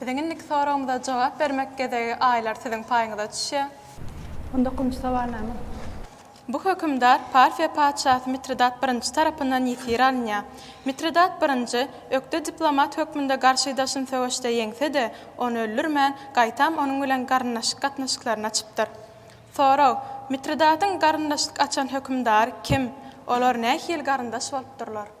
Biziň indiki soragymyza jogap bermek gezegi aýlar siziň paýyňyza düşýär. On dokuzynjy sowal näme? Bu hökümdar Parfiýa patyşasy Mitridat I tarapyndan ýesir alynýar. Mitridat I ökde diplomat hökmünde garşydaşyny söweşde ýeňse-de, ony öldürmän, gaýtam onuň bilen garyndaşlyk gatnaşyklaryny açypdyr. Sorag, Mitridatyň garyndaşlyk açan hökümdary kim? Olar nähili garyndaş bolupdyrlar?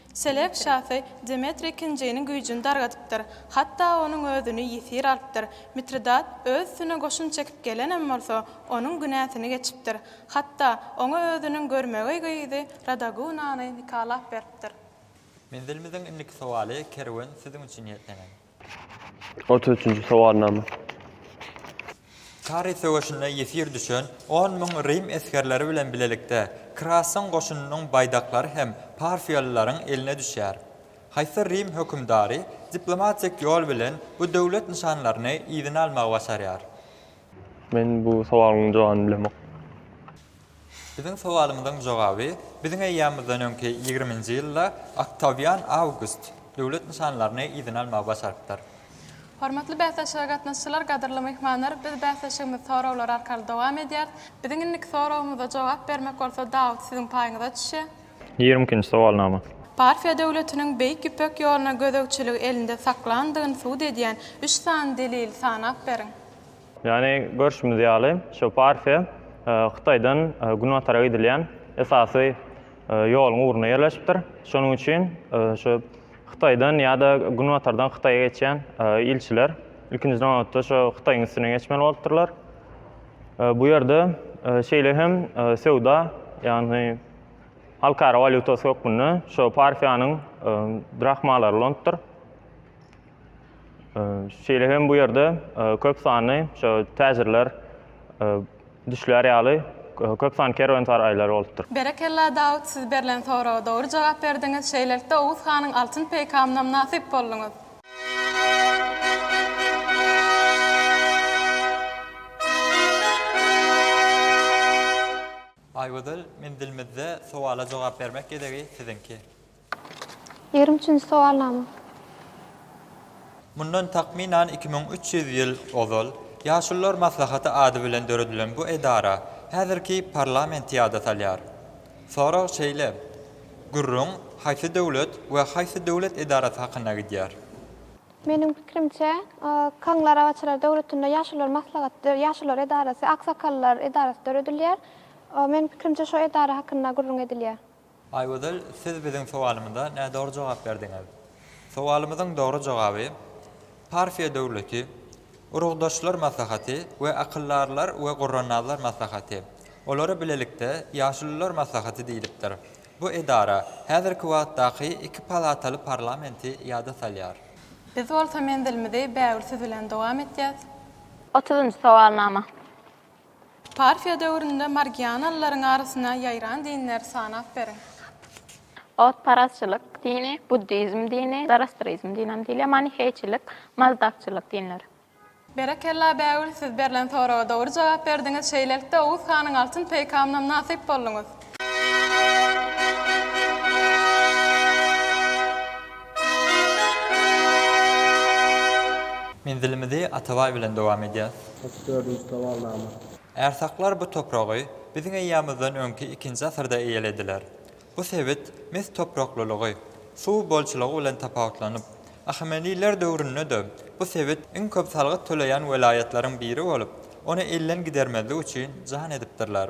Selewk şasy Demetriý ikinjiniň güýjüni dargadypdyr, hatda onuň özüni ýesir alypdyr. Mitridat öz üstüne goşun çekip gelenem bolsa, onuň günäsini geçipdir. Hatda, oňa özüniň görmegeý gyzy Radagunany nikalap beripdir. Menzilimiziň indiki sowaly kerwen siziň üçin niýetlenen. Otuz üçünji sowalnama. Kary söweşinde ýesir düşen on müň rim esgerleri bilen bilelikde Krasyň goşunynyň baýdaklary hem parfiýalylaryň eline düşýär. Haýsy rim hökümdary diplomatik ýol bilen bu döwlet nyşanlaryny yzyna almagy başarýar? Men bu sowalyň jogabyny bilemok. Biziň sowalymyzyň jogaby biziň eýýamymyzdan öňki ýigriminji ýylda Oktawian Awgust döwlet nyşanlaryny yzyna almagy başarypdyr. Hormatly bäsleşige gatnaşyjylar, gadyrly myhmanlar, biz bäsleşigimizi soraglar arkaly dowam edýäris. Biziň indiki soragymyza jogap bermek bolsa Dawut siziň paýyňyza düşýär. Ýigrimi ikinji sowalnama. Parfiýa döwletiniň Beýik Ýüpek ýoluna gözegçiligi elinde saklandygyny subut edýän üç sany delili sanap beriň. Ýany görşümiz ýaly, şu partiýa Hytaýdan günbatara gidilýän esasy ýoluň ugrunda ýerleşipdir. Şonuň üçin şu Hytaýdan ýa-da günbatardan Hytaýa geçýän ilçiler ilkinji nobatda şu Hytaýyň üstünden geçmeli bolupdyrlar. Bu ýerde şeýle hem söwda, ýagny halkara walýutasy hökmünde şu partiýanyň drahmalary ulanypdyr. Şeýle hem bu ýerde köp sanly şo täjirler düşlär ýaly köp sanly kerwensaraýlar bolupdyr. Berekella Dawut siz berlen soraga dogry jogap berdiňiz şeýlelikde Oguz hanyň altyn peýkamyna mynasyp bolduňyz. Aýgözel menzilimizde sowala jogap bermek gezegi siziňki. Ýigrimi üçünji sowalnama. Mundan takmynan iki müň üç ýüz ýyl ozal Ýaşulular maslahaty ady bilen döredilen bu edara häzirki parlamenti ýada salýar. Sorag şeýle, Gürrüň haýsy döwlet we haýsy döwlet edarasy hakynda gidýär? Meniň pikirimçe, Kaňly arabaçylar döwletinde Ýaşulular maslahaty, Ýaşulular edarasy, Aksakallar edarasy döredilýär. Meniň pikirimçe, şo edara hakynda gürrüň edilýär. Aýgözel siz biziň sowalymyza nädogry jogap berdiňiz. Sowalymyzyň dogry jogaby Parfiýa döwleti, Urugdaşlar maslahaty we Akyldarlar we Gurrannazlar maslahaty, olara bilelikde Ýaşulular maslahaty diýlipdir. Bu edara häzirki wagtdaky iki palataly parlamenti ýada salýar. Biz bolsa menzilimizi bägül siz bilen dowam etýäs. Otuzynjy sowalnama. Parfiýa döwründe margianalylaryň arasyna ýaýran dinleri sanap beriň. Otparazçylyk dini, buddizm dini, zoroastrizm dini hem diýilýär, maniheýçilik, mazdakçylyk dinleri. Berekella Bägül siz berlen soraga dogry jogap berdiňiz şeýlelikde Oguz hanyň altyn peýkamynam nasyp bolduňyz. Menzilimizi Atabaý bilen dowam edýäs. Otuz dördünji sowalnama. Ärsaklar bu topragy biziň eýýamyzdan öňki ikinji asyrda eýelediler. Bu sebit mes topraklylygy, suw bolçulygy bilen tapawutlanyp, Ahameniler döwründe-de bu sebit iň köp salgyt töleýän welaýatlaryň biri bolup, ony elden gidermezlik üçin jan edipdirler.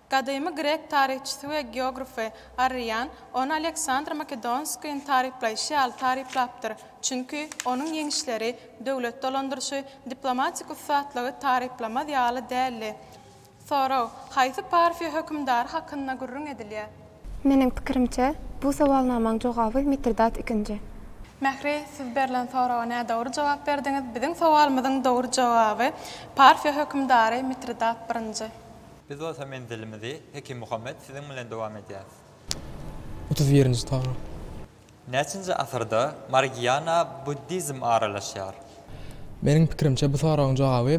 Gadymy grek taryhçysy we geografy Arrian ony Aleksandr Makedonskýyň taryplaýşy ýaly taryplapdyr, çünki onuň ýeňişleri, döwlet dolandyryşy, diplomatik ussatlygy taryplamaz ýaly däldi. Sorag, Haýsy Parfiýa hökümdary hakynda gürrüň edilýär? Meniň pikirimçe, bu sowalnamaň jogaby Mitridat ikinji. Mähri, siz berlen soraga nädogry jogap berdiňiz. Biziň sowalymyzyň dogry jogaby Parfiýa hökümdary Mitridat birinji. Biz bolsa menzilimizi Hekim Muhammet siziň bilen dowam edýäris. Otuz birinji tarap. Näçinji asyrda Margiana buddizm aralaşýar? Meniň pikirimçe bu soragyň jogaby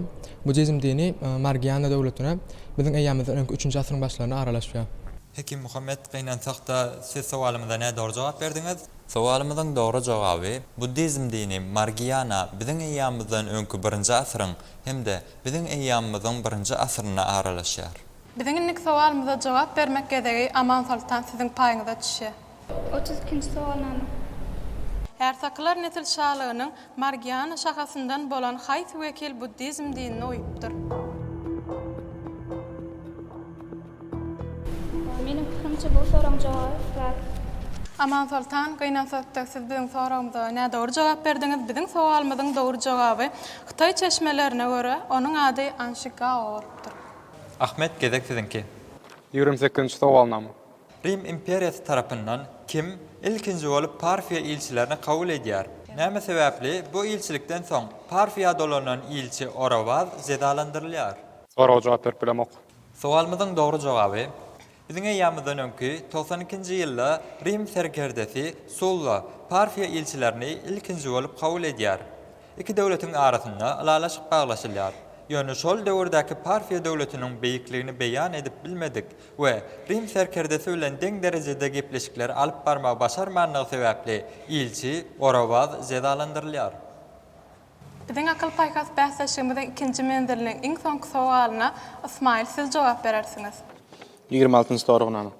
buddizm dini Margiana döwletine biziň eýýamymyzdan öňki üçünji asyryň başlaryna aralaşýar. Hekim Muhammet gynansakda siz sowalymyza nädogry jogap berdiňiz. Sowalymyzyň dogry jogaby buddizm dini Margiana biziň eýýamymyzdan öňki birinji asyryň hem-de Biziň eýýamymyzyň birinji asyryna aralaşýar. Biziň indiki sowalymyza jogap bermek gezegi Amansoltan siziň paýyňyza düşýär. Otuz ikinji sowalnama. Ärsakylar nesil şalygynyň Margiana şahasyndan bolan haýsy wekil buddizm dinini oýupdyr? Meniň pikirimçe bu soragyň jogaby biraz. Amansoltan gynansakda siz biziň soragymyza nädogry jogap berdiňiz. Biziň sowalymyzyň dogry jogaby hytaý çeşmelerine görä onuň ady Anşi Gao bolupdyr. Ahmet gezek siziňki. Ýigrimi sekizinji sowalnama. Rim imperiýasy tarapyndan kim ilkinji bolup Parfiýa ilçilerini kabul edýär? Näme sebäpli bu ilçilikden soň Parfiýa dolanan ilçi Orawaz jezalandyrylýar? Soraga jogap berip bilemok. Sowalymyzyň dogry jogaby, Biziň eýýamymyzdan öňki togsan ikinji ýylda Rim serkerdesi Sulla Parfiýa ilçilerini ilkinji bolup kabul edýär. Iki döwletiň arasynda ylalaşyk baglaşylýar. Ýöne şol döwürdäki Parfiýa döwletiniň beýikligini beýan edip bilmedik we Rim serkerdesi bilen deň derejede gepleşikleri alyp barmagy başarmandygy sebäpli ilçi Orawaz jezalandyrylýar. Biziň akyl-paýhas bäsleşigimiziň ikinji menziliniň iň soňky sowalyna, Ysmaýyl, siz jogap berersiňiz. Ýigrimi altynjy soragnama.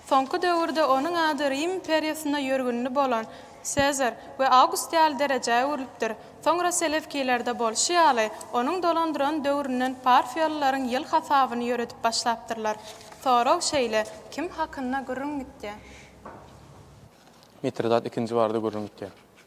Soňky döwürde onuň ady Rim imperiýasynda ýörgünli bolan Sezar we Awgust ýaly derejä öwrülipdir. Soňra selewkilerde bolşy ýaly, onuň dolandyran döwründen parfiýalylaryň ýyl hasabyny ýöredip başlapdyrlar. Sorag şeýle, kim hakynda gürrüň gitýär? Mitridat ikinji barada gürrüň gitýär.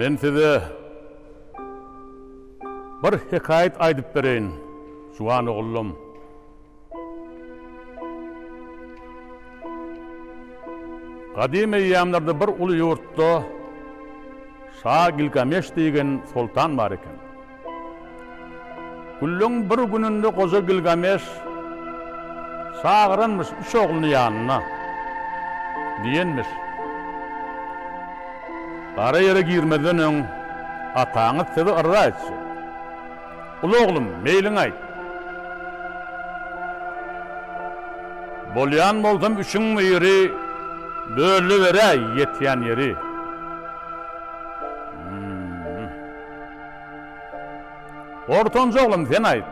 Men size bir hekaýat aýdyp bereýin, juwan ogullum. Gadym eýýamlarda bir uly ýurtda şa Gilgameş diýgen soltan bar eken. Günleň bir gününde goja Gilgameş çagyranmyş üç ogluny ýanyna. Diýenmiş. Gara ýere girmezden öň ataňyz sizi yrza etjek. Uly oglum, meýliňi aýt. Bolýan bolsam üçiň biri bölüberäý ýetýän ýeri. Ortanjy oglum, sen aýt.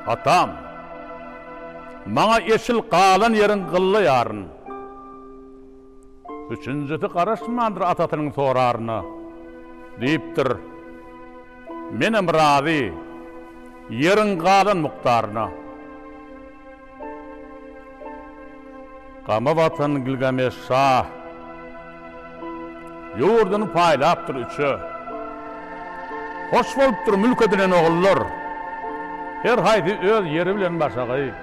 Atam. Maňa eşil galan ýeriň gylla ýaryn. Üçünjisi garaşmandyr atasynyň soraryna. Diýipdir, Menem razy, ýeriň galan mukdaryna. Gama batan Gilgameş şa ýurduny paýlapdyr üçe. Hoş bolupdyr mülk edinen ogullar, her haýsy öz ýeri bilen başagaý.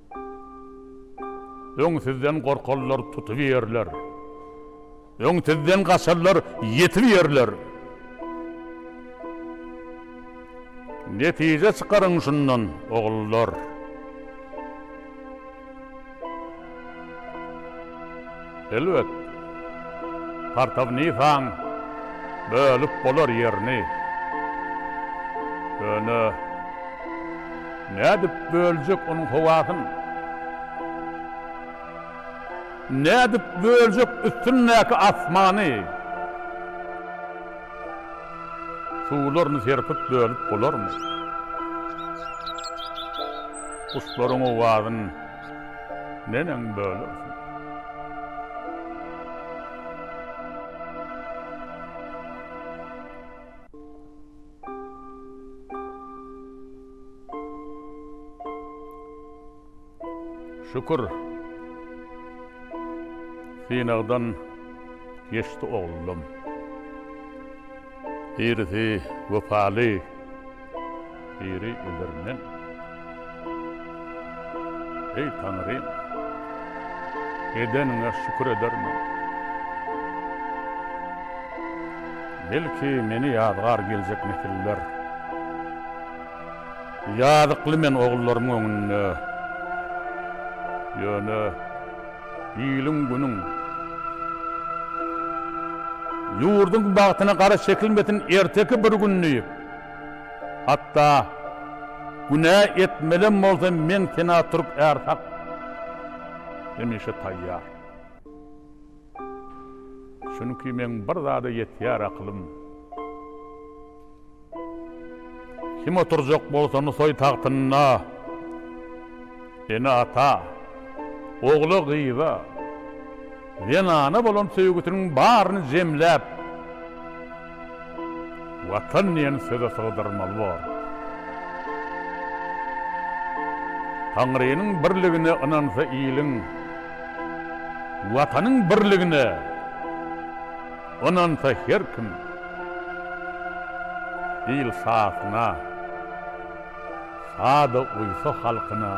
Öň sizden gorkarlar, tutubiýerler. Öň sizden gaçarlar, ýetibiýerler. Netije çykaryň şundan, ogullar. Elbet, Partawnikaň bölüp bolar ýerini. Ýöne nädip böljek onuň howasyny? Nädip böljek üstündäki asmany? Suwlaryny serpip bölüp bolarmy? Guşlaryň owazyn Neneň bölek? Şükür. Synagdan geçdi oglum. Birisi wepaly. Biri öler men. Eý Taňrym! Edeniňe şükür eder men. Belki meni ýazgar geljek nesiller. Ýazykly men ogullaryň öňünde. Ýöne iliň-günüň, ýurduň bagtyna gara çekilmesin erteki bir gün diýip. Hatda günä etmelem bolsam meň sena türk är hak hemişe taýýar. Çünki meň bir zada ýetýär akylym. Kim oturjak bolsa Nusaý tagtynda, ene-ata, ogla-gyza, Zenana bolan söýgüsiniň baryny jemläp, Watan diýen söze sygdyrmaly bor. Taňrynyň birligine ynansa iliň, Watanyň birligine ynansa her kim, il şasyna. Sada uýsa halkyna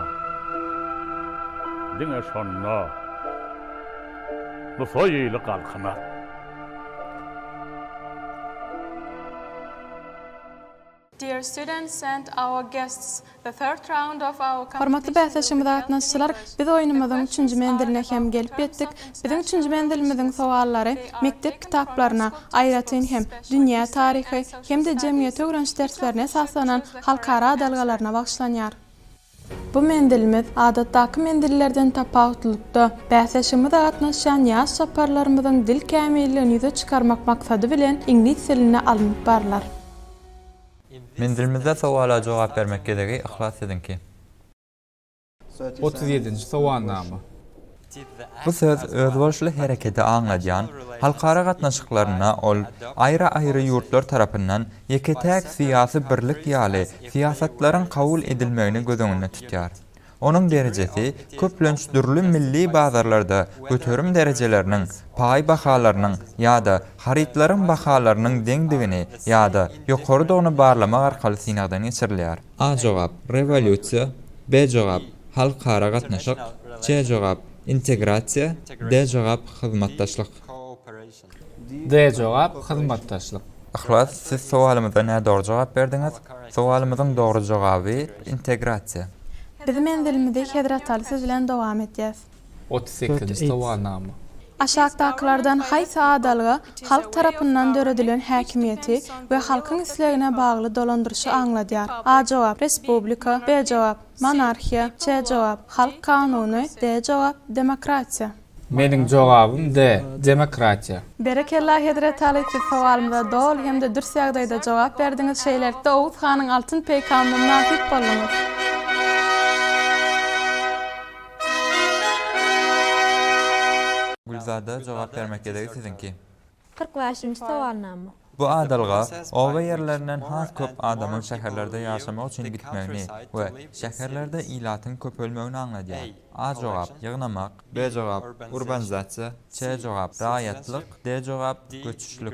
diňe şonda bu toý ýyly galkynar. Dear students and our guests, the third round of our competition will be held in Hormatly bäsleşigimize gatnaşyjylar, biz oýnumyzyň üçünji menziline hem gelip ýetdik. Biziň üçünji menzilimiziň sowallary mekdep kitaplaryna, aýratyn hem, dünýä taryhy hem-de jemgyýeti öwreniş derslerine esaslanan halkara adalgalaryna bagyşlanýar. Bu menzilimiz, adatdaky menzillerden tapawutlylykda, bäsleşigimize gatnaşýan ýaş çaparlarymyzyň dil kämilligini ýüze çykarmak maksady bilen iňlis dilinde alnyp barlar. Menzilimizde sowala jogap bermek gezegi yhlas siziňki. Otuz ýedinji sowalnama. Bu söz özboluşly hereketi aňladýan halkara gatnaşyklarynda ol aýry-aýry ýurtlar tarapyndan ýeke-täk syýasy birlik ýaly syýasatlaryň kabul edilmegini göz öňünde tutýar. Onuň derejesi köplenç dürli milli bazarlarda göterim derejeleriniň, paý bahalarynyň ýa-da harytlaryň bahalarynyň deňdigini ýa-da ýokarydygyny barlamak arkaly synagdan geçirilýär. A jogap, Rewolýusiýa B jogap, Halkara gatnaşyk C jogap, Integrasiýa D jogap, Hyzmatdaşlyk. D jogap, Hyzmatdaşlyk. Yhlas, siz sowalymyza nädogry jogap berdiňiz. Sowalymyzyň dogry jogaby, Integrasiýa. Biz menzilimizi Hezrataly siz bilen dowam etýäs. Otuz sekizinji sowalnama. Aşakdakylardan haýsy adalga halk tarapyndan döredilen häkimiýeti we halkyň islegine bagly dolandyryşy aňladýar? A jogap, Respublika, B jogap, Monarhiýa, C jogap, Halk kanuny, D jogap, Demokratiýa. Meniň jogabym D. Demokratiýa. Berekella Hezretaly siz sowalymyza doly hem-de dürs ýagdaýda jogap berdiňiz şeýlelikde Oguz hanyň altyn peýkamyna mynasyp bolduňyz. Gülzada, jogap bermek gezegi siziňki. Kyrk bäşinji sowalnama. Bu adalga oba ýerlerinden has köp adamyň şäherlerde ýaşamak üçin gitmegini we şäherlerde ilatyň köpelmegini aňladýar. A jogap, ýygnamak. B jogap, urbanizasiýa. C jogap, raýatlyk. D jogap, göçüşlik.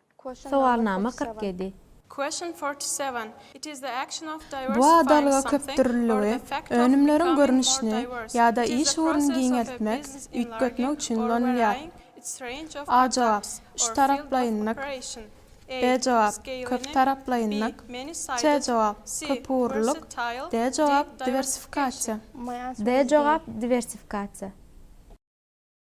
Sowalnama kyrk ýedi. Question forty seven It is the action of Bu diwersifying adalga something or the fact of becoming more diverse. It is the action of köpdürlüligi, önümleriň görnüşini ýa-da iş ugruny giňeltmek, üýtgetmek üçin ulanylýar. A jogap, Üçtaraplaýynlyk. B jogap, Köptaraplaýynlyk. C jogap, Köpugurlylyk. D jogap, Diwersifikasiýa. D jogap, Diwersifikasiýa.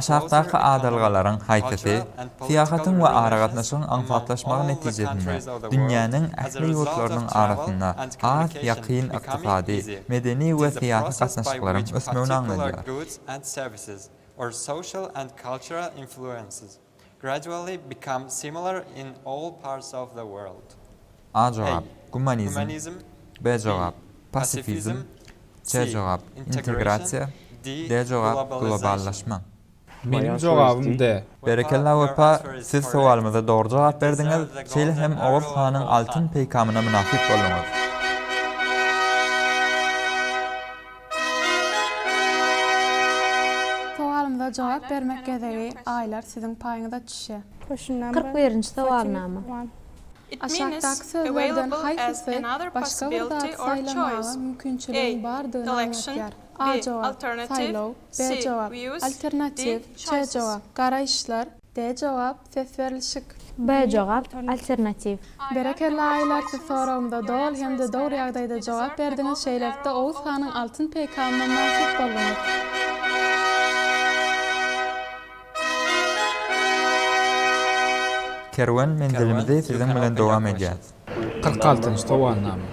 Aşakdaky adalgalaryň haýsysy syýahatyň we aragatnaşygyň aňsatlaşmagy netijesinde dünýäniň ähli ýurtlarynyň arasynda has ýakyn ykdysady, medeni we syýasy gatnaşyklaryň ösmegini aňladýar? Gradually become similar in all parts of the world. A jogap, Gumanizm B jogap, Pasifizm C jogap, Integrasiýa D jogap, Globallaşma. Meniň jogabym D. Berekella Wepa siz sowalymyza dogry jogap berdiňiz, şeýle hem Oguz hanyň altyn peýkamyna mynasyp bolduňyz. Sowalymyza jogap bermek gezegi Aýlar siziň paýyňyza düşýä. Kyrk birinji sowalnama. Aşakdaky sözlerden haýsysy başga bir zady saýlamaga mümkinçiligiň bardygyny aňlatýar? A jogap, Saýlaw. B jogap, Alternatiw. C jogap, Garaýyşlar. D jogap, ses berlişik. B jogap, alternatiw. Berekella Aýlar siz soragymda doly hem-de dogry ýagdaýda jogap berdiňiz şeýlelikde Oguz hanyň altyn peýkamyna mynasyp bolduňyz. Kerwen menzilimizi siziň bilen dowam edýär. Kyrk altynjy sowalnama.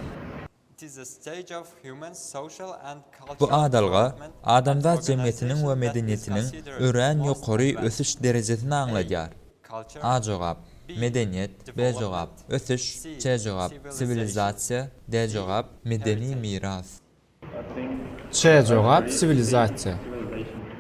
Bu adalga adamzat jemgyýetiniň we medeniýetiniň örän ýokary ösüş derejesini aňladýar. A jogap, Medeniýet. B jogap, Ösüş. C jogap, Siwilizasiýa. D jogap, Medeni miras. C jogap, Siwilizasiýa.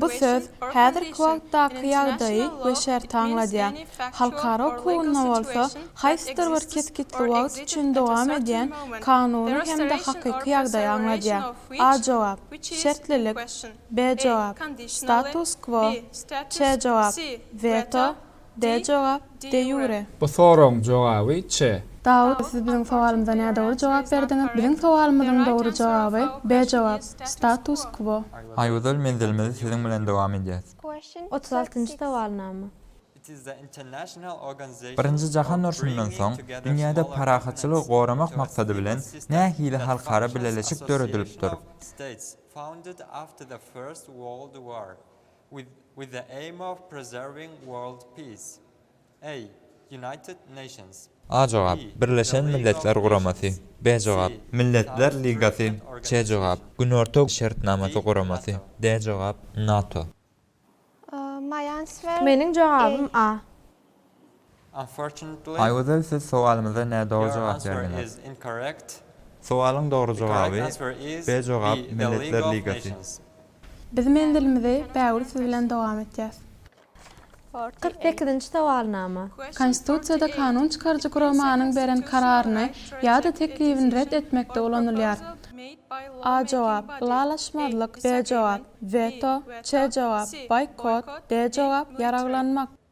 Bu söz häzirki wagtdaky ýagdaýy we şerti aňladýar. Halkara hukugynda bolsa haýsydyr bir kesgitli wagt üçin dowam edýän kanuny hem-de hakyky ýagdaýy aňladýar. A jogap, Şertlilik. B jogap, Status-kwo. Ç jogap, Weto. D jogap, de ýure. Bu soragyň jogaby, ç. Dawut, siz biziň sowalymyza nädogry jogap berdiňiz. Biziň sowalymyzyň dogry jogaby, B jogap, status quo. Aýgözel, menzilimizi siziň bilen dowam edýäs. Otuz altynjy sowalnama. Birinji jahan urşundan soň dünýäde parahatçylygy goramak maksady bilen nähili halkara bileleşik döredilipdir? With the aim of preserving world peace. A. United Nations. A jogap, Birleşen Milletler Guramasy. B jogap, Milletler Ligasy. C jogap, Günorta Şertnamasy Guramasy. D jogap, NATO. Meniň jogabym A. Aýgözel siz sowalymyza nädogry jogap berdiňiz. Sowalyň dogry jogaby, B jogap Milletler Ligasy. Biz menzilimizi bägül siz bilen dowam etýäs. Kyrk sekizinji sowalnama. Konstitusiýada kanun çykaryjy guramanyň beren kararyny ýa-da teklibini ret etmekde ulanylýar. A jogap, ylalaşmazlyk, B jogap, weto, C jogap, boýkot, D jogap, ýaraglanmak.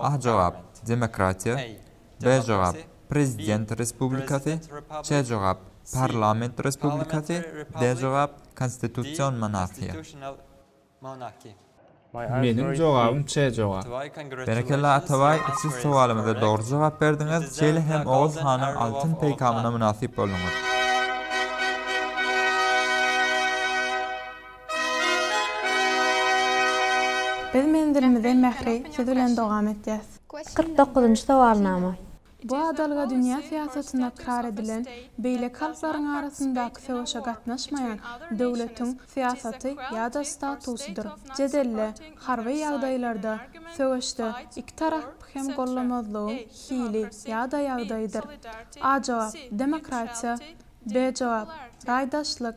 A jogap, Demokratiýa. B jogap, Prezident Respublikasy. C jogap, Parlament Respublikasy. D jogap, Konstitusion Monarhiýa. Meniň jogabym C jogap. Berekella Atabaý siz sowalymyza dogry jogap berdiňiz şeýle hem Oguz hanyň altyn peýkamyna mynasyp bolduňyz. Biz menzilimize mähri siz bilen dogam etýäs. Kyrk dokuzynjy sowalnama. Bu adalga dünýä syýasatynda ykrar edilen, beýleki halklaryň arasyndaky söweşe gatnaşmaýan, döwletiň, syýasaty ýa-da statusydyr. Jedelde, harby ýagdaýlarda, söweşde, iki tarapy hem gollamazlygyň hili ýa-da ýagdaýydyr. A jogap, demokratiýa. B jogap, raýdaşlyk.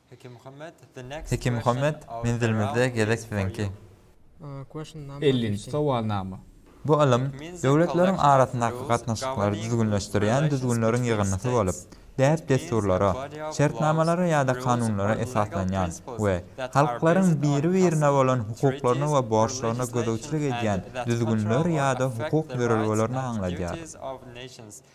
Heki Muhammet, menzilimizde gezek siziňki. Ellinji sowalnama. Bu ylym döwletleriň arasyndaky gatnaşyklary düzgünleşdirýän düzgünleriň ýygyndysy bolup, däp-dessurlara, şertnamalara ýa-da kanunlara esaslanýan we halklaryň biri-birine bolan hukuklaryna we borçlaryna gözegçilik edýän düzgünler ýa-da hukuk ýörelgelerini aňladýar.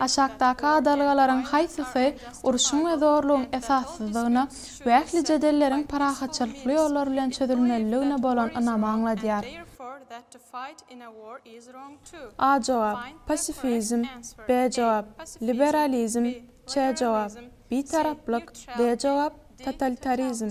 Aşakdaky adalgalaryň haýsysy urşuň we zorlugyň esassyzdygyna we ähli jedelleriň parahatçylykly ýollar bilen çözülmelidigine bolan ynamy aňladýar? A jogap, Pasifizm. B jogap, Liberalizm. C jogap, Bitaraplyk. D jogap, Totalitarizm.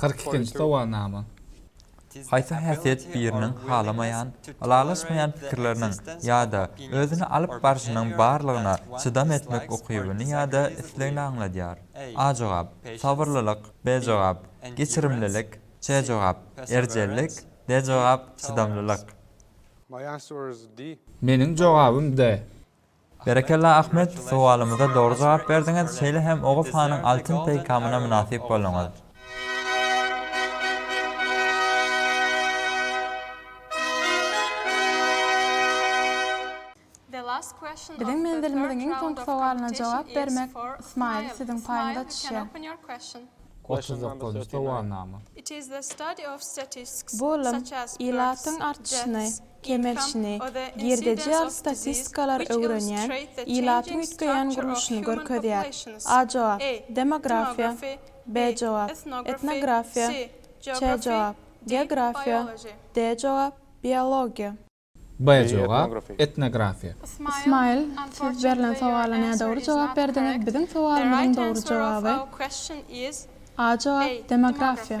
Kyrk ikinji sowalnama. Haýsy häsiýet biriniň halamaýan, ylalaşmaýan pikirleriniň ýa-da özüni alyp barşynyň barlygyna çydam etmek ukybyny ýa-da islegini aňladýar? A jogap, Sabyrlylyk B jogap, Geçirimlilik C jogap, Erjellik D jogap, Çydamlylyk. Meniň jogabym D. Berekella Ahmet, sowalymyza dogry jogap berdiňiz, şeýle hem Oguz hanyň altyn peýkamyna mynasyp bolduňyz. Biziň menzilimiziň iň soňky sowalyna jogap bermek smile siziň paýyňyza düşýär. Otuz dokuzynjy sowalnama. Bu ylym ilatyň artşyny, kemelşini, girdejiar statistikalar öwrenýän, ilaty üýtgeýän gurluşyny görkezýär. A jogap, Demografiýa. B jogap, Etnografiýa. Ç jogap, Geografiýa. D jogap, Biologiýa. B jogap, Etnografiýa. Ismaýyl, siz berlen sowala nädogry jogap berdiňiz, biziň sowalymyzyň dogry jogaby, A jogap, Demografiýa.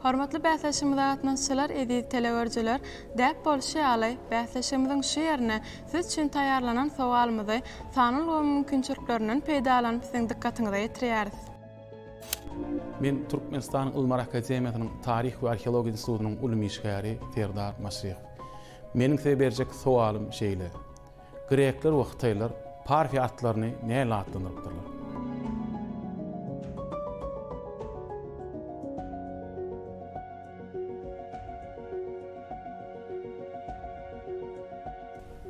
Hormatly bäsleşigimize gatnaşyjylar, eziz teleüerjiler! Däp bolşy ýaly, bäsleşigimiziň şu ýerine siz üçin taýýarlanan sowalymyzy sanly ulgamyň mümkinçiliklerinden peýdalanyp siziň dykgatyňyza ýetirýäris. Men Türkmenistanyň Ylymlar akademiýasynyň Taryh we arheologiýa institutynyň ylym işgäri Serdar Maşrekow. Meniň size berjek sowalym şeýle. Grekler we hytaýlar Parfiýa atlaryny näle atlandyrypdyrlar?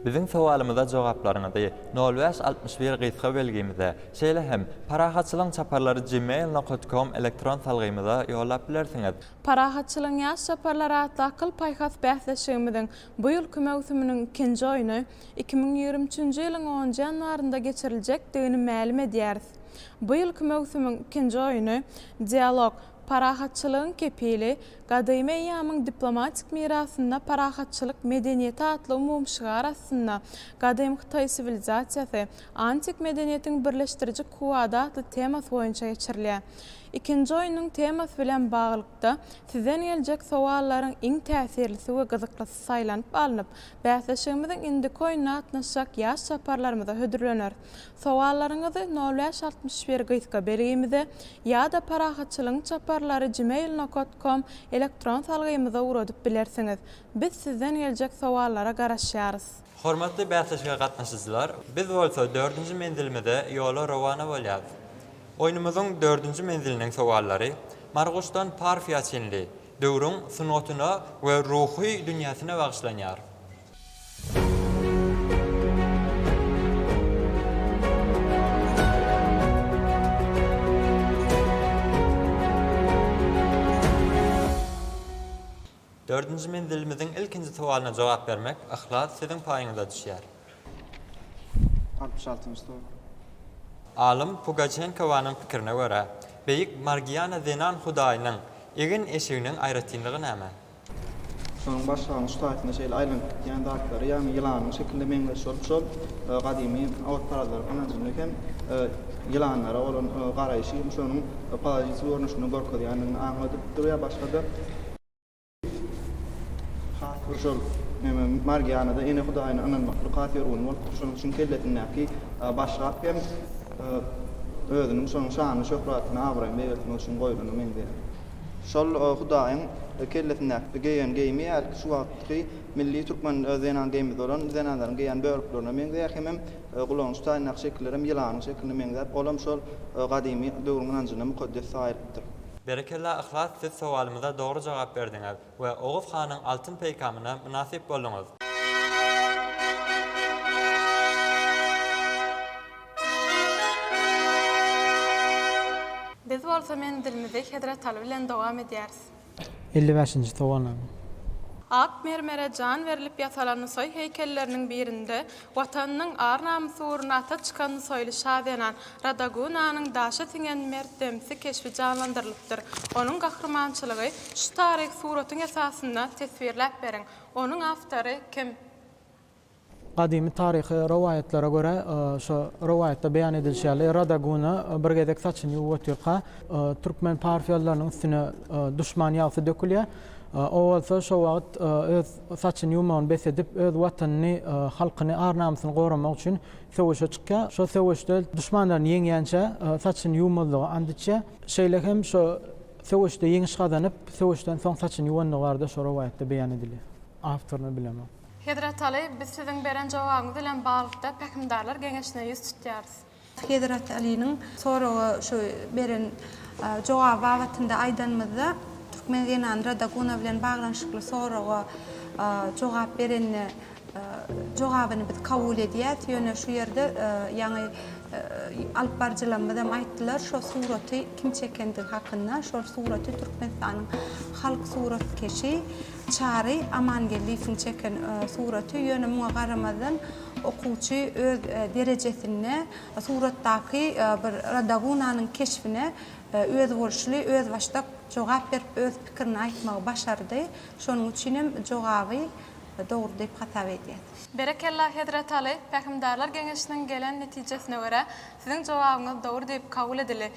Biziň sowalymyza jogaplaryňyzy nol bäş altmyş bir gysga belgimize, şeýle hem Parahatçylygyň çaparlary gmail nokat kom elektron salgymyza ýollap bilersiňiz. Parahatçylygyň ýaş çaparlary atly akyl-paýhas bäsleşigimiziň Bu ýylky möwsüminiň ikinji oýny iki müň ýigrimi üçünji ýylyň onunjy ýanwarynda geçiriljekdigini mälim edýäris. Bu ýylky möwsümiň ikinji oýny Dialog, parahatçylygyň kepili, gadymy eýýamyň diplomatik mirasynda parahatçylyk medeniýeti atly umumy şygar astynda Gadymy Hytaý siwilizasiýasy, antik medeniýetiň birleşdiriji kuwwady atly temasy boýunça geçirilýär. Ikinji oýnuň temasy bilen baglylykda, sizden geljek sowallaryň iň täsirlisi we gyzyklysy saýlanyp alnyp, bäsleşigimiziň indiki oýnuna gatnaşjak ýaş çaparlarymyza hödürlener. Sowallaryňyzy nol bäş altmyş bir gysga belgimize ýa-da Parahatçylygyň çaparlary gmail nokat kom elektron salgymyza ugradyp bilersiňiz. Biz sizden geljek sowallara garaşýarys. Hormatly bäsleşige gatnaşyjylar, biz bolsa dördünji menzilimize ýola rowana bolýarys. Oýnumyzyň dördünji menziliniň sowallary Marguşdan Parfiýa çenli döwrüň sungatyna we ruhy dünýäsine bagyşlanýar. Dördünji menzilimiziň ilkinji sowalyna jogap bermek Yhlas siziň paýyňyza düşýär. Altmyş altynjy sowal. Alym Pugaçenkowanyň pikirine görä, beýik Margiana zenan hudaýynyň egin-eşiginiň aýratynlygy näme? Şonuň başlangyç taýtynda şeýle aýlanyp gitýän zatlary, ýagny ýylanyň şekiline meňzeş bolup, şol gadymy awutparazlaryň ynanjynda hem ýylanlara bolan garaýşy hem şonuň palajiçi görnüşinde görkezýändigini aňladyp durýar, başga-da. Has bir şol neme, Margianada ene hudaýyna ynanmaklyk has ýörgün bolupdyr, şonuň üçin kellesindäki baş gap hem özüniň şonuň şanyny, şöhratyny, abraýyny beýgeltmek üçin goýlana meňzeýär. Şol hudaýyň kellesindäki geýen geýimi hälki şu wagtky milli türkmen zenan geýmimiz bolan zenanlaryň geýen böleklerine meňzeýär hemem Gulanyş taýyndaky şekillerem ýylanyň şekiline meňzäp, olam şol gadymy döwrüň ynanjynda mukaddes saýylypdyr. Berekella Yhlas siz sowalymyza dogry jogap berdiňiz we Oguz hanyň altyn peýkamyna mynasyp bolduňyz. Biz bolsa menzilimizi Hezret Aly bilen dowam edýäris. Elli bäşinji towanaň. Ak mermere jan berlip ýasalan Nusaý heýkelleriniň birinde Watanynyň ar-namysy ugrunda ata çykan nusaýly şa zenan Radagunanyň daşa siňen mert demsi keşbi janlandyrylypdyr. Onuň gahrymançylygy şu taryhy suratyň esasynda teswirläp beriň. Onuň awtory kim? Gadymy taryhy rowaýatlara görä, şu rowaýatda beýan edilişi ýaly, Radaguna bir gezek saçyny ýuwup otyrka, türkmen parfiýalylarynyň üstüne duşman ýagsy dökülýär. O bolsa şo wagt öz saçyny ýuwmagyny bes edip, öz watanyny, halkyny, ar-namysyny goramak üçin söweşe çykýar. Şo söweşde duşmanlaryny ýeňýänçä saçyny ýuwmazlyga ant içýär. Şeýle hem şo söweşde ýeňiş gazanyp, söweşden soň saçyny ýuwandygy barada şo rowaýatda beýan edilýär. Awtoryny bilemok. Hezret Aly, biz siziň beren jogabyňyz bilen baglylykda Pähimdarlar geňeşine ýüz tutýarys. Hezret Alynyň soraga şu beren jogaby babatynda aýdanymyzda, türkmen zenany Radaguna bilen baglanyşykly soraga jogap berende, jogabyny biz kabul edýäs, ýöne şu ýerde ýaňy alyp baryjylarymyzam aýtdylar, şo suraty kim çekendigi hakynda, şol suraty Türkmenistanyň halk suratkeşi, Çary Amangeldiýewiň çeken suraty, ýöne muňa garamazdan okuwçy öz derejesinde suratdaky bir Rodagunanyň keşbine özboluşly, özbaşdak jogap berip, öz pikirini aýtmagy başardy. Şonuň üçin hem jogaby dogry diýip hasap edýäs. Berekella Hezret Aly, Pähimdarlar geňeşiniň gelen netijesine görä, siziň jogabyňyz dogry diýip kabul edildi.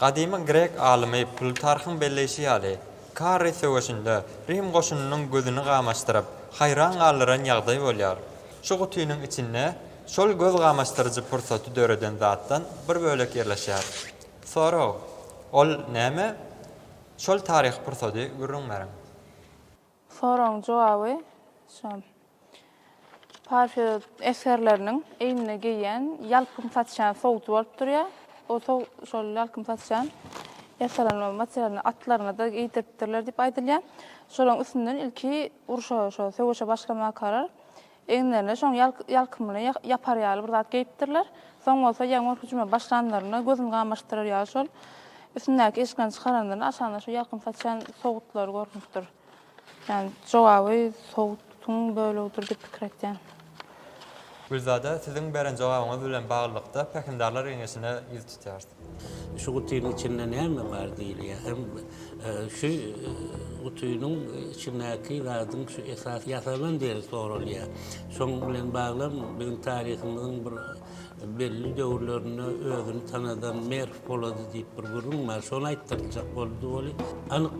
Gadymy grek alymy Plutarhyň belleýşi ýaly, Karri söweşinde Rim goşunynyň gözüni gamaşdyryp, haýran galdyran ýagdaý bolýar. Şu gutynyň içinde şol göz gamaşdyryjy pursaty döreden zatdan bir bölek ýerleşýär. Sorag, Ol näme? Şol taryhy pursady gürrüň beriň. Soragyň jogaby şu. Parfiýod esgerleriniň egnine geýýän ýalkym saçýan sowuty bolup durýar. O sow şol ýalkym saçýan ýasalanma materialyny atlaryna-da geýdiripdirler diýip aýdylýar. Şolaryň üstünden ilki urşa, şo söweşe başlamakalar Eginlerine şoň ýalkymly, ýapar ýaly bir zat geýipdirler. Soň bolsa ýaňur hüjüme başlanlarynda gözüni gamaşdyrar ýaly şol üstündäki eşiklerini çykaranlarynda aşagynda şu ýalkym saçýan sowutlary görnüpdir. Ýagny jogaby sowutyň bölegidir diýip pikir etýän. Gülzada, siziň beren jogabyňyz bilen baglylykda Pähimdarlar geňeşine ýüz tutýarys. Şu gutynyň içinde näme bar diýilýär hem şu gutynyň içindäki zadyň şu esasy ýasalan diýlip soralýar. Şoň bilen baglam biziň taryhymyzyň bir belli döwürlerinde özüni tanadan Merw Polady diýip bir gürrüň bar. Şony aýtdyryljak boldy weli, anyk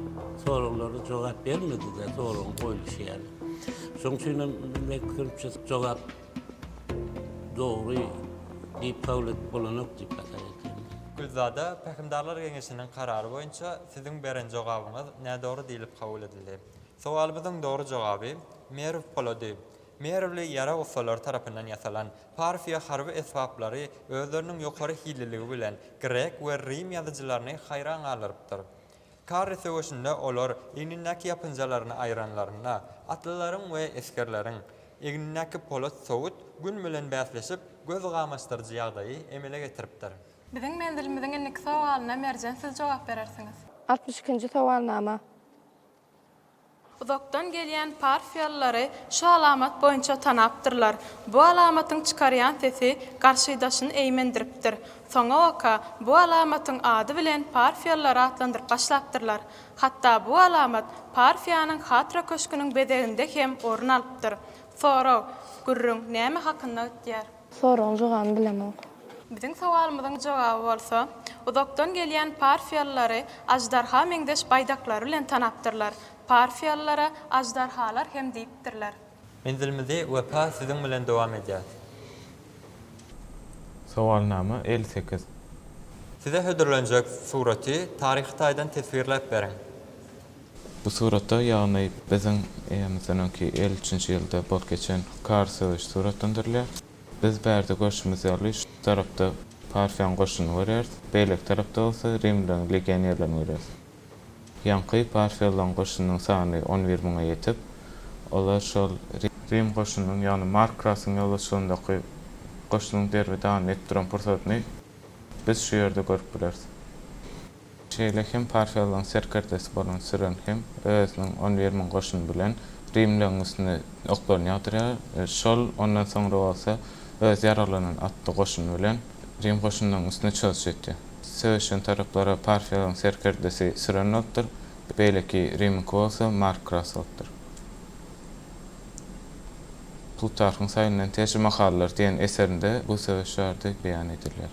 soraglara jogap bermedi-de, soragyň goýluşy ýaly. Şoň üçinem men pikrimçe jogap Dogry diýip kabul edip bolanok diýip hasap edýärin. Gülzada Pähimdarlar geňeşiniň karary boýunça siziň beren jogabyňyz nädogry diýlip kabul edildi. Sowalymyzyň dogry jogaby, Merw polady. Merwli ýarag ussalary tarapyndan ýasalan Parfiýa harby esbaplary özleriniň ýokary hilliligi bilen grek we rim ýazyjylaryny haýran galdyrypdyr. Karry söweşinde olar egnindäki ýapynjalaryny aýranlarynda, atlylaryň we esgerleriň egnindäki polat sowut Gün bilen bäsleşip, göz gamaşdyryjy ýagdaýy emele getiripdir. Biziň menzilimiziň indiki sowalyna Merjen siz jogap berersiňiz. Altmyş ikinji sowalnama. Uzakdan gelýän parfiýalylary şu alamat boýunça tanapdyrlar. Bu alamatyň çykarýan sesi garşydaşyny eýmendiripdir. Soňabaka bu alamatyň ady bilen parfiýalylary atlandyryp başlapdyrlar. Hatda bu alamat parfiýanyň hatra köşgüniň bezeginde hem orun alypdyr. Sorag, Gürrüň näme hakynda gitýär? Soragyň jogabyny bilemok. Biziň sowalymyzyň jogaby bolsa, uzakdan gelýän parfiýalylary aždarha meňzeş baýdaklary bilen tanapdyrlar, parfiýalylara aždarhalar hem diýipdirler. Menzilimizi Wepa siziň bilen dowam edýäs. Sowalnama elli sekiz. Size hödürlenjek suraty taryhy taýdan teswirläp beriň. Bu suratda, ýagny biziň eýemizleriňki elli üçünji ýylda bolup geçen Kar söweşi suratlandyrylýar. Biz bärde görşümiz ýaly, şu tarapda Parfiýanyň goşunyny görýäris, beýleki tarapda bolsa rimlileriň legionerlerini görýäris. Ýaňky parfiýalylaryň goşunynyň sany on bir müňe ýetip, olar şol rim goşunynyň, ýagny Mark Krasyň ýolbaşçylygyndaky goşunyň derbi-dagyn edip duran pursatyny biz şu ýerde görüp bileris. Şeýle hem Parfiýalylaryň serkerdesi bolan Siren hem özüniň on bir müň goşuny bilen rimlileriň üstüne oklaryny ýagdyrýar. Şol ondan soňra bolsa öz ýaraglanan atly goşuny bilen rim goşunynyň üstüne çozşy etýär. Söweşen taraplara Parfiýalylaryň serkerdesi Siren bolupdyr, beýleki rimiňki bolsa Markras bolupdyr. Plutarhyň Saýynyň Teje makallar diýen eserinde bu söweş barada beýan edilýär.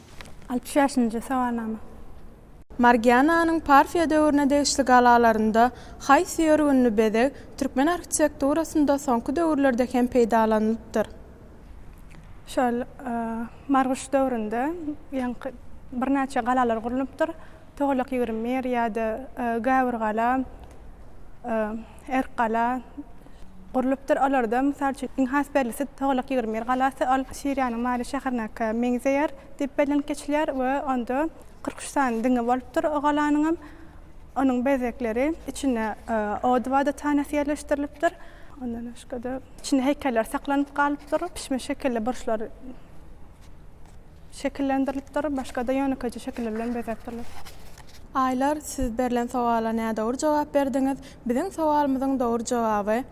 Altmyş bäşinji sowalnama. Margiananyň Parfiýa döwrüne degişli galalarynda haýsy ýörgünli bezeg türkmen arhitekturasynda soňky döwürlerde hem peýdalanylypdyr? Şol Marguş döwründe ýaňky birnäçe galalar gurlunypdyr. Togalak ýigrimi bir ýa-da Gäwürgala, Erkgala gurlupdyr. Olarda, mysal üçin, iň has bellisi Togalak ýigrimi bir galasy. Ol Siriýanyň Mary şäheriniňkä meňzeýär diýip bellenip geçilýär we onda kyrk üç sany diňi bolupdyr o galanyňam. Onuň bezegleri, içinde ody wadatanasy ýerleşdirilipdir. Ondan başga-da, içinde heýkeller saklanyp galypdyr. Pişme şekilli burçlar. Şekillendirilipdir, başga-da ýönekeýje şekiller bilen bezäpdirler. Aýlar, siz berlen sowala nädogry jogap berdiňiz. Biziň sowalymyzyň dogry jogaby,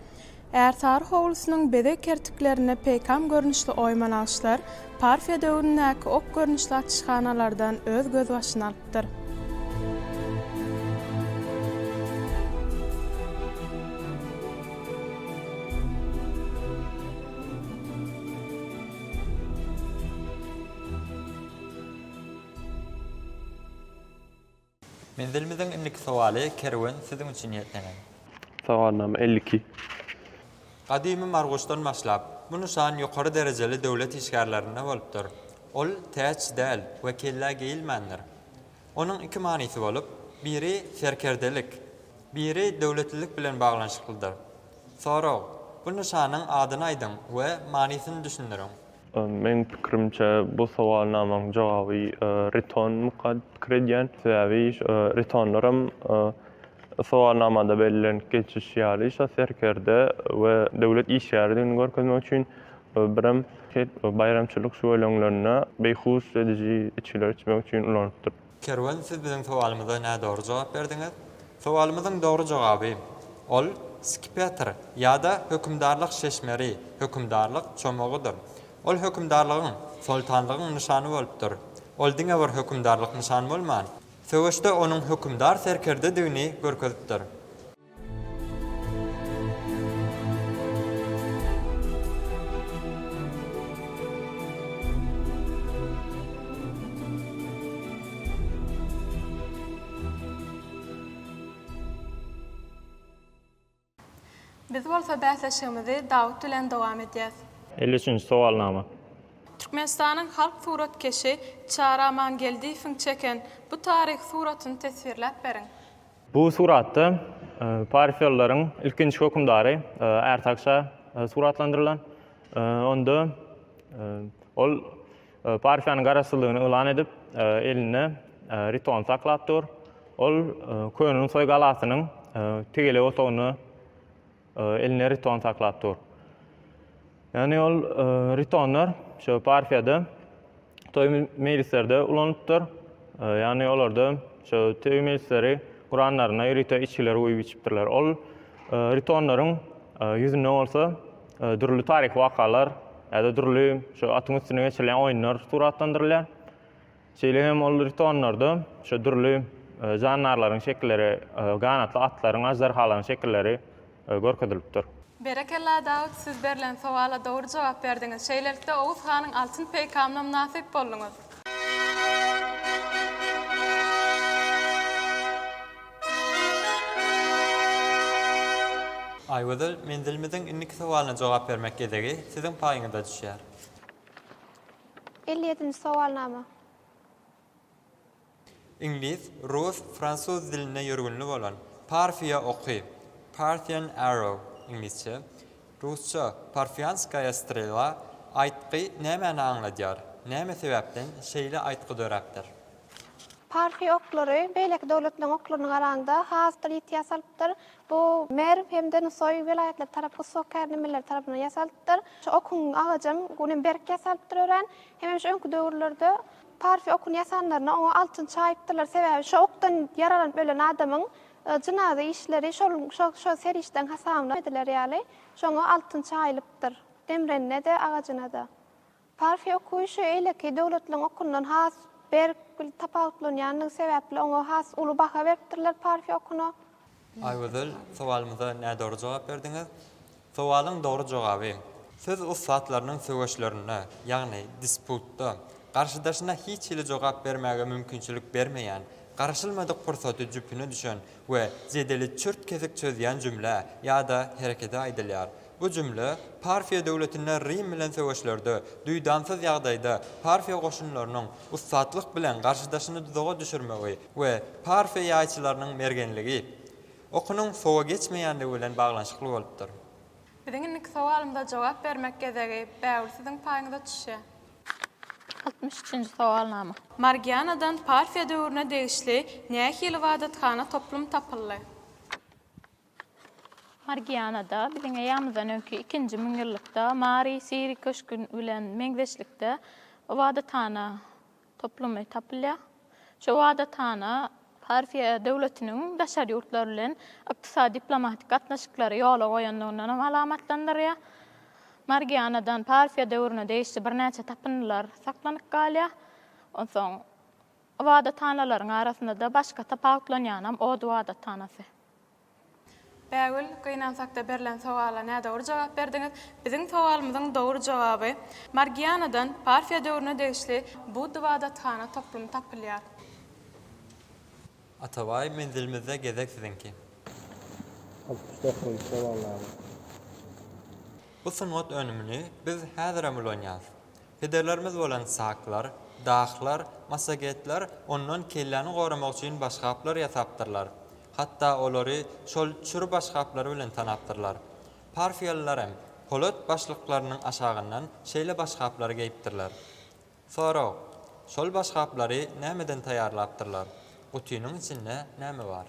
Ärsary howlusynyň bezeg kertiklerinde peýkam görnüşli oýma nagyşlar Parfiýa döwründäki ok görnüşli açyşhanalardan öz gözbaşyny alypdyr. Menzilimiziň indiki sowaly Kerwen siziň üçin niýetlenen. Sowalnama elli iki. Gadymy Marguşdan başlap, bu nyşan ýokary derejeli döwlet işgärlerinde bolupdyr. Ol täç däl we kellä geýilmändir. Onuň iki manysy bolup, biri serkerdelik, biri döwletlilik bilen baglanyşyklydyr. Sorag, Bu nyşanyň adyny aýdyň we manysyny düşündiriň. Meň pikirimçe, bu sowalnamaň jogaby Riton mukad pikir edýän. Sebäbi Ritonlaram sowalnamada bellenip geçişi ýaly, şo serkerde we döwlet işgäridigini görkezmek üçin Birem şeýdip baýramçylyk şüweleňlerinde beýhuş ediji içgileri içmek üçin ulanypdyr. Kerwen siz biziň sowalymyza nädogry jogap berdiňiz. Sowalymyzyň dogry jogaby, ol skipetr ýa-da hökümdarlyk şeşmeri, hökümdarlyk çomagydyr. Ol hökümdarlygyň, soltanlygyň nyşany bolupdyr. Ol diňe bir hökümdarlyk nyşan bolman, söweşde onuň hökümdar serkerdedigini görkezipdir. Biz bolsa bäsleşigimizi Dawut bilen dowam edýäs. Elli üçünji sowalnama. Türkmenistanyň halk suratkeşi Çary Amangeldiýewiň çeken bu taryhy suratyny teswirläp beriň. Bu suratda parfiýalylaryň ilkinji hökümdary Ärsak şa suratlandyrylan. Onda ol Parfiýanyň garaşsyzlygyny yglan edip, elinde Ritony saklap dur. Ol Könenusaý galasynyň tegelek otagynda Elinde riton saklap dur. Ýagny ol ritonlar şu parfiýada toý mejlislerde ulanypdyr. Ýagny olarda şu toý mejlisleri guranlaryna rito içgileri guýup içipdirler. Ol ritonlaryň ýüzünde bolsa dürli taryhy wakalar ýa-da dürli şu atyň üstünde geçirilýän oýunlar suratlandyrylýar. Şeýle hem ol ritonlarda şu dürli jandarlaryň şekilleri, ganatly atlaryň, aždarhalaryň şekilleri görkezilipdir. Berekella Dawut siz berlen sowala dogry jogap berdiňiz şeýlelikde Oguz hanyň altyn peýkamyna mynasyp bolduňyz. Aýgözel menzilimiziň indiki sowalyna jogap bermek gezegi siziň paýyňyza düşýär. Elli ýedinji sowalnama. Iňlis, rus, fransuz dilinde ýörgünli bolan Parfiýa oky, Parthian arrow, iňlisçe, rusça, Parfiýanskaýa strela, aýtgy nämäni aňladýar? Näme sebäpden şeýle aýtgy döräpdir? Parfiýa oklary beýleki döwletleriň oklaryna garanda has-da litiýa salypdyr. Bu Merw hem-de Nusaý welaýatlary tarap ussat kärndemeleri tarapyndan ýasalypdyr. Şu okuň agajam günem berk ýasalypdyr örän. Hemem şu öňki döwürlerde Parfiýa okuny ýasanlarynda oňa altyn çaýypdyrlar. Sebäbi şu okdan ýaralanyp ölen adamyň jynaza işleri şol şo serişdäň hasabyna ediler ýaly, şoňa altyn çaýylypdyr. Demrenine-de, agajyna-da. Parfiýa okuşy eýleki döwletleriň okundan has berk tapawutlanýandygy sebäpli oňa has uly baha beripdirler Parfiýa okuna. Aýgözel, sowalymyza nädogry jogap berdiňiz. Sowalyň dogry jogaby. Söz ussatlarynyň söweşlerinde, ýagny disputda, garşydaşyna hiç hili jogap bermäge mümkinçilik bermeýän, garaşylmadyk pursady jüpüne düşen we jedeli çürt-kesik çözýän jümlä ýa-da herekede aýdylýar. Bu jümle Parfiýa döwletinde Rim bilen söweşlerde duýdansyz ýagdaýda Parfiýa goşunlarynyň ussatlyk bilen garşydaşyny duzaga düşürmegi we Parfiýa ýaýçylarynyň mergenligi, okunyň sowa geçmeýändigi bilen baglanyşykly bolupdyr. Biziň indiki sowalymyza jogap bermek gezegi bägül siziň paýyňyza çüşýär. Altmyş üçünji sowalnama. Margianadan Parfiýa döwrüne degişli nähili ybadathana toplum tapyldy? Margianada biziň eýýamyzdan öňki ikinji müňýyllykda Mary Siri köşgi bilen meňzeşlikde ybadathana toplumy tapylýar. Şu ybadathana Parfiýa döwletiniň daşary ýurtlar bilen ykdysady-diplomatik gatnaşyklary ýola goýandygyny hem alamatlandyrýar. Margianadan Parfiýa döwrüne degişli birnäçe tapyndylar saklanyp galýar. Onsoň ybadathanalaryň arasynda-da başga tapawutlanýany hem Od ybadathanasy. Bägül, gynansakda berlen sowala nädogry jogap berdiňiz. Biziň sowalymyzyň dogry jogaby, Margianadan Parfiýa döwrüne degişli Budda ybadathana toplumy tapylýar. Atabaý, menzilimizde gezek siziňki. Altmyş dokuzynjy sowal, Bägül. Bu sungat önümini biz häzirem ulanýarys. Pederlerimiz bolan saklar, dahlar, massagetler ondan kelläni goramak üçin başgaplar ýasapdyrlar. Hatda olary şol çür başgaplary bilen tanapdyrlar. Parfiýalylar hem polat başlyklarynyň aşagyndan şeýle başgaplary geýipdirler. Sorag, Şol başgaplary nämeden taýýarlapdyrlar? Gutynyň içinde näme bar?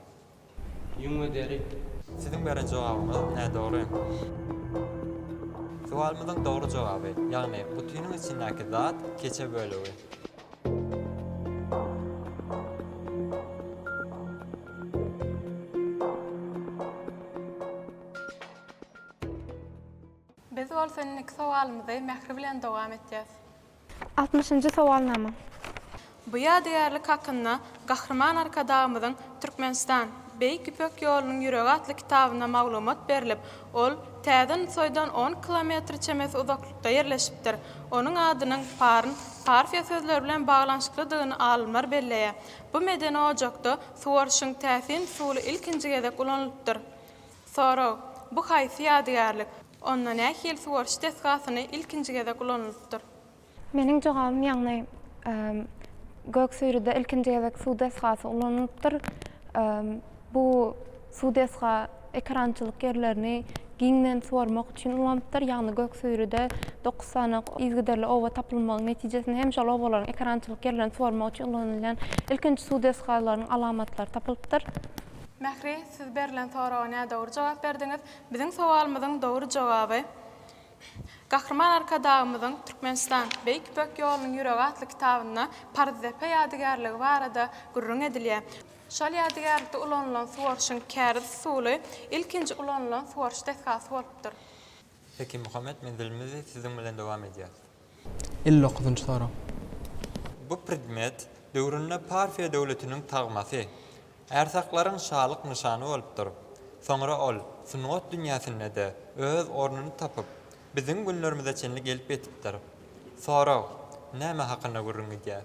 Ýüň we deri. Siziň beren jogabyňyz nädogry. Sowalymyzyň dogry jogaby, ýagny gutynyň içindäki zat keçe bölegi. Biz bolsa indiki sowalymyzy Mähri bilen dowam etýäs. Altmyşynjy sowalnama. Bu ýadygärlik hakynda Gahryman Arkadagymyzyň Türkmenistan, Beýik Ýüpek ýolunyň ýüregi atly kitabynda maglumat berlip, ol Täze Nusaýdan on kilometr çemesi uzaklykda ýerleşipdir. Onuň adynyň Parn, Parfiýa sözleri bilen baglanyşyklydygyny alymlar belleýär. Bu medeni ojakda suwaryşyň täsin usuly ilkinji gezek ulanylypdyr. Sorag, Bu haýsy ýadygärlik? Onda nähili suwaryş desgasyny ilkinji gezek ulanylypdyr? Meniň jogabym ýagny Göksüýrüde ilkinji gezek suw desgasy ulanylypdyr. Bu suw desga ekerançylyk ýerlerini giňden suwarmak üçin ulanypdyr. Ýagny Göksüýrüde dokuz sany yzgiderli oba tapylmagyň netijesinde hem şol obalaryň ekerançylyk ýerlerini suwarmak üçin ulanylýan ilkinji suw desgalarynyň alamatlary tapylypdyr. Mähri, siz berlen soraga nädogry jogap berdiňiz. Biziň sowalymyzyň dogry jogaby Gahryman Arkadagymyzyň Türkmenistan, Beýik Ýüpek ýolunyň ýüregi atly kitabynda Paryzdepe ýadygärligi barada gürrüň edilýär. Şol ýadygärlikde ulanylan suwaryşyň käriz usuly ilkinji ulanylan suwaryş desgasy bolupdyr. Hekimuhammet menzilimizi siziň bilen dowam edýäs. Elli dokuzynjy sorag. Bu predmet döwründe Parfiýa döwletiniň tagmasy, ärsaklaryň şalyk nyşany bolupdyr. Soňra ol sungat dünýäsinde-de öz ornuny tapyp, biziň günlerimize çenli gelip ýetipdir. Sorag näme hakynda gürrüň gidýär?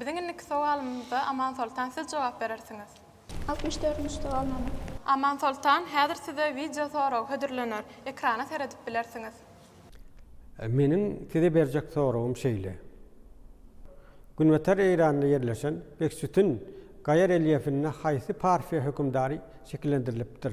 Biziň indiki sowalymyza Amansoltan siz jogap berersiňiz. Altmyş dördünji sowalnama. Amansoltan, häzir size wideo soragy hödürlener. Ekrana seredip bilersiňiz. Meniň size berjek soragym şeýle. Günbatar Eýranda ýerleşen Beksütün gaýa relýefinde haýsy parfiýa hökümdary şekillendirilipdir?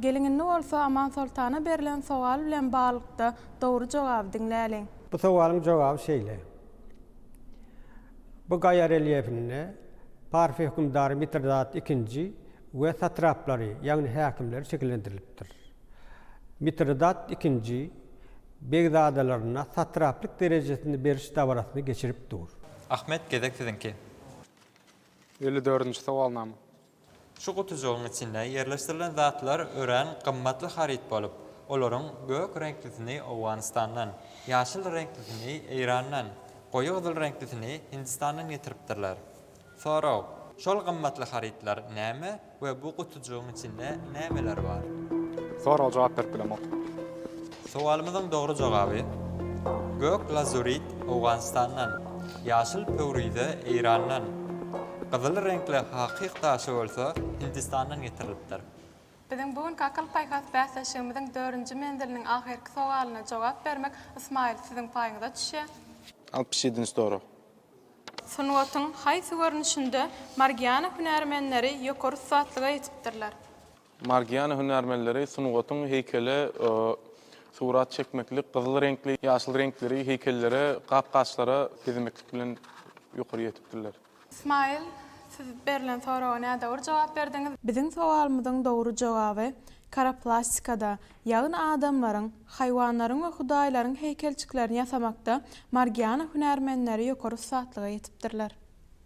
Geliň indi bolsa Aman Soltana berlen sowal bilen baglykda dogry jogaby diňläliň. Bu sowalyň jogaby şeýle. Bu gaýa relýefinde Parfiýa hökümdary Mitridat II we satraplary, ýagny häkimleri şekillendirilipdir. Mitridat II begzadalaryna satraplyk derejesini beriş dabarasyny geçirip dur. Ahmet, gezek siziňki. Elli dördünji sowalnama. Şu gutujygyň içinde ýerleşdirilen zatlar örän gymmatly haryt bolup, olaryň gök reňklisini Owganystandan, ýaşyl reňklisini Eýrandan, goýy gyzyl reňklisini Hindistandan getiripdirler. Sorag, Şol gymmatly harytlar näme we bu gutujygyň içinde nämeler bar? Sorag jogap berip bilemok. Sowalymyzyň dogry jogaby, Gök lazurit Owganystandan, ýaşyl pöwrize Eýrandan, gyzyl reňkli hakyk daşy bolsa Hindistandan getirilipdir. Biziň bu günki akyl-paýhas bäsleşigimiziň dördünji menziliniň ahyrky sowalyna jogap bermek, Ysmaýyl, siziň paýyňyza düşýär. Altmyş ýedinji sorag. Sungatyň haýsy görnüşinde Margiana hünärmenleri ýokary ussatlyga ýetipdirler? Margiana hünärmenleri sungatyň heýkele surat çekmeklik, gyzyl reňkli, ýaşyl reňkleri heýkellere, gap-gaçlara bezemeklik bilen ýokary ýetipdirler. Smile Siz berlen soraga nädogry jogap berdiňiz. Biziň sowalymyzyň dogry jogaby Karoplastikada, ýagny adamlaryň, haýwanlaryň we hudaýlaryň heýkelçiklerini ýasamakda Margiana hünärmenleri ýokary ussatlyga ýetipdirler.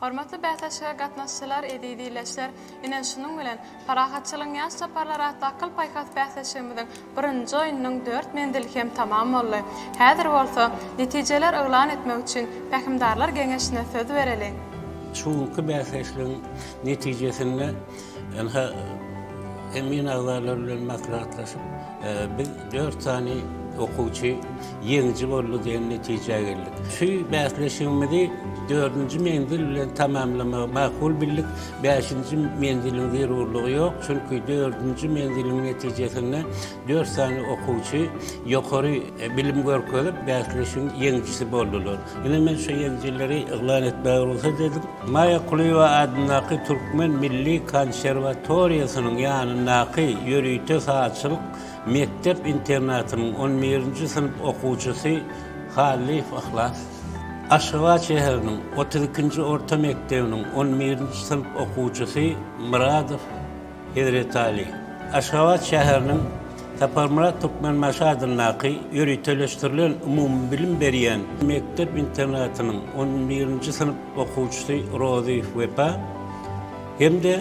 Hormatly bäsleşige gatnaşyjylar, eziz ildeşler! Ine, şunuň bilen, Parahatçylygyň ýaş çaparlary atly akyl-paýhas bäsleşigimiziň birinji oýnunyň dört menzili hem tamam boldy. Häzir bolsa, netijeler yglan etmek üçin Pähimdarlar geňeşine söz bereliň. Şu günki bäsleşligiň netijesinde Ynha, emin agzalar bilen maslahatlaşyp, biz dört sany okuwçy ýeňiji boldy diýen netijä geldik. Şu bäsleşigimizi dördünji menzil bilen tamamlamagy makul bildik. Bäşinji menziliň zerurlygy ýok, çünki dördünji menziliň netijesinde dört sany okuwçy ýokary bilim görkezip, bäsleşigiň ýeňijisi boldular. Ine men şu ýeňijileri yglan etmäge rugsat ediň. Maýa Kulyýewa adyndaky Türkmen milli konserwatoriýasynyň ýanyndaky ýörite sazçylyk mekdep-internatynyň on birinji synp okuwçysy Hallyýew Yhlas, Aşgabat şäheriniň otuz ikinji orta mekdebiniň on birinji synp okuwçysy Myradow, Hezretaly, Aşgabat şäheriniň Saparmyrat Türkmenbaşy adyndaky ýöriteleşdirilen umumybilim berýän mekdep-internatynyň on birinji synp okuwçysy Rozy Wepa hem-de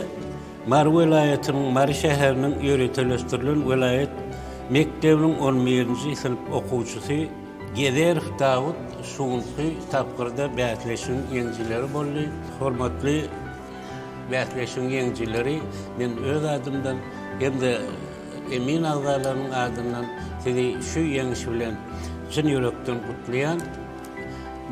Mary welaýatynyň Mary şäheriniň ýöriteleşdirilen welaýat mekdebiniň on birinji synp okuwçysy Gezerow Dawut şu günki tapgyrda bäsleşigiň ýeňijileri boldy. Hormatly. Bäsleşigiň ýeňijileri men öz adymdan hem-de emin agzalarynyň adyndan sizi şu ýeňiş bilen çyn ýürekden gutlaýan.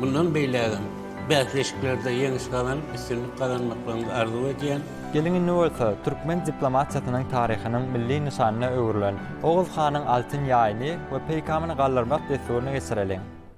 Mundan beýlägem bäsleşiklerde ýeňiş gazanyp, üstünlik gazanmaklaryňyzy arzuw edýän. Geliň indi bolsa türkmen diplomatiýasynyň taryhynyň milli nyşanyna öwrülen Oguz hanyň altyn ýaýyny we peýkamyny galdyrmak dessuryny geçireliň.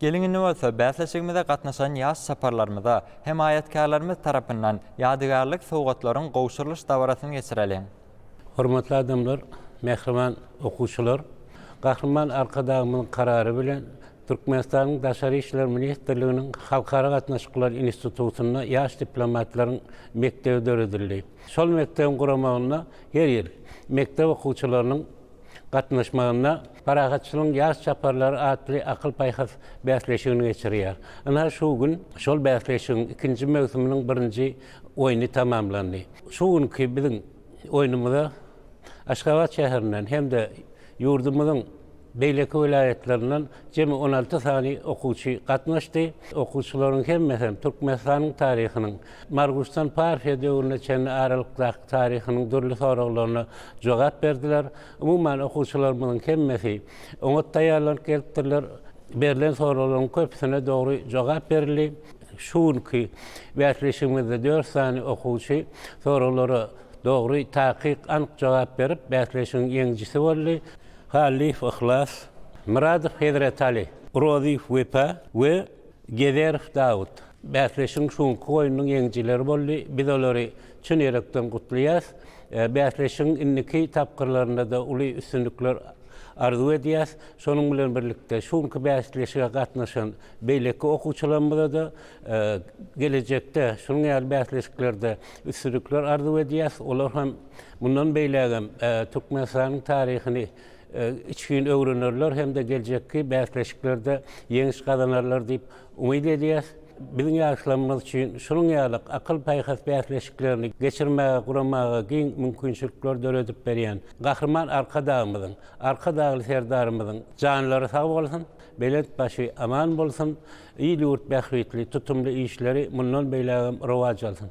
Geliň indi bolsa bäsleşigimize gatnaşan ýaş çaparlarymyza hemaýatkärlerimiz tarapyndan ýadygärlik sowgatlaryň gowşurylyş dabarasyny geçireliň. Hormatly adamlar, mähriban okuwçylar! Gahryman Arkadagymyzyň Karary bilen Türkmenistanyň Daşary işler ministrliginiň Halkara gatnaşyklary institutynda ýaş diplomatlaryň mekdebi döredildi. Şol mekdebiň guramagynda her ýyl mekdep okuwçylarynyň gatnaşmagynda Parahatçylygyň ýaş çaparlary atly akyl-paýhas bäsleşigini geçirýär. Ynha, şu gün şol bäsleşigiň ikinji möwsüminiň birinji oýny tamamlandy. Şu günki biziň oýnumyza Aşgabat şäherinden hem-de ýurdumyzyň Beýleki welaýatlaryndan jemi on alty sany okuwçy gatnaşdy. Okuwçylaryň hemmesem Türkmenistanyň taryhynyň, Marguşdan Parfiýa döwrüne çenli aralykdaky taryhynyň dürli soraglaryna jogap berdiler. Umuman, okuwçylarymyzyň hemmesi oňat taýýarlanyp gelipdirler. Berlen soraglaryň köpüsine dogry jogap berildi. Şu günki bäsleşigimizde dört sany okuwçy soraglara dogry, takyk, anyk jogap berip, bäsleşigiň ýeňijisi boldy. Hallyýew Yhlas, Myradow Hezretali, Rozyýew Wepa we Gezerow Dawut bäsleşigiň şu günki oýnunyň ýeňijileri boldy. Biz olary çyn ýürekden gutlaýarys. Bäsleşigiň indiki tapgyrlarynda-da uly üstünlikler arzuw edýäris. Şonuň bilen birlikde, şu günki bäsleşige gatnaşan beýleki okuwçylarymyza-da gelejekde şunuň ýaly bäsleşiklerde üstünlikler arzuw edýäris. Olar hem. Mundan beýlägem Türkmenistanyň taryhyny içgin öwrenerler hem-de geljekki bäsleşiklerde ýeňiş gazanarlar diýip umyt edýäs. Biziň ýaşlarymyz üçin şunuň ýaly akyl-paýhas bäsleşiklerini geçirmäge, guramaga giň mümkinçilikler döredip berýän Gahryman Arkadagymyzyň, Arkadagly Serdarymyzyň janlary sag bolsun, belent başy aman bolsun, il-ýurt bähbitli tutumly işleri mundan beýlägem rowaç alsyn!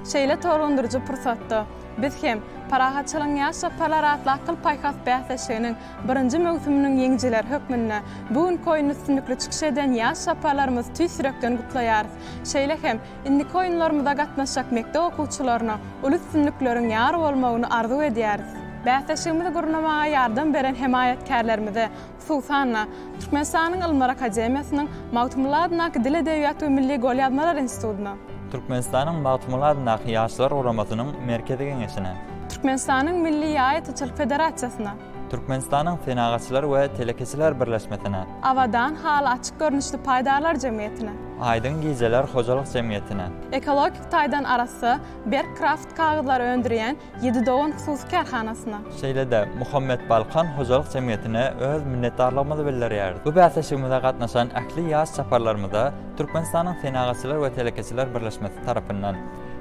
Şeýle tolgundyryjy pursatda, biz hem Parahatçylygyň ýaş çaparlary atly akyl-paýhas bäsleşiginiň birinji möwsüminiň ýeňijileri hökmünde bu günki oýunda üstünlikli çykyş eden ýaş çaparlarymyzy tüýs ýürekden gutlaýarys. Şeýle hem indiki oýunlarymyza gatnaşjak mekdep okuwçylaryna uly üstünlikleriň ýar bolmagyny arzuw edýäris. Bäsleşigimizi gurnamaga ýardam beren hemaýatkärlerimize Susanna, Türkmenistanyň Ylymlar akademiýasynyň Magtymguly adyndaky Dil, edebiýat we milli golýazmalar institutyna. Türkmenistanyň Magtymguly adyndaky Ýaşlar guramasynyň Merkezi geňeşine. Türkmenistanyň Milli ýaýatyçylyk federasiýasyna. Türkmenistanyň Senagatçylar we telekeçiler birleşmesine. Abadan haly açyk görnüşli paýdarlar jemgyýetine. Aýdyň gijeler hojalyk jemgyýetine. Ekologik taýdan arassa, berk kraft kagyzlary öndürýän Ýedi dogan hususy kärhanasyna. Şeýle-de, Muhammet Balkan hojalyk jemgyýetine öz minnetdarlygymyzy bildirýäris. Bu bäsleşigimize gatnaşan ähli ýaş çaparlarymyza Türkmenistanyň Senagatçylar we telekeçiler birleşmesi tarapyndan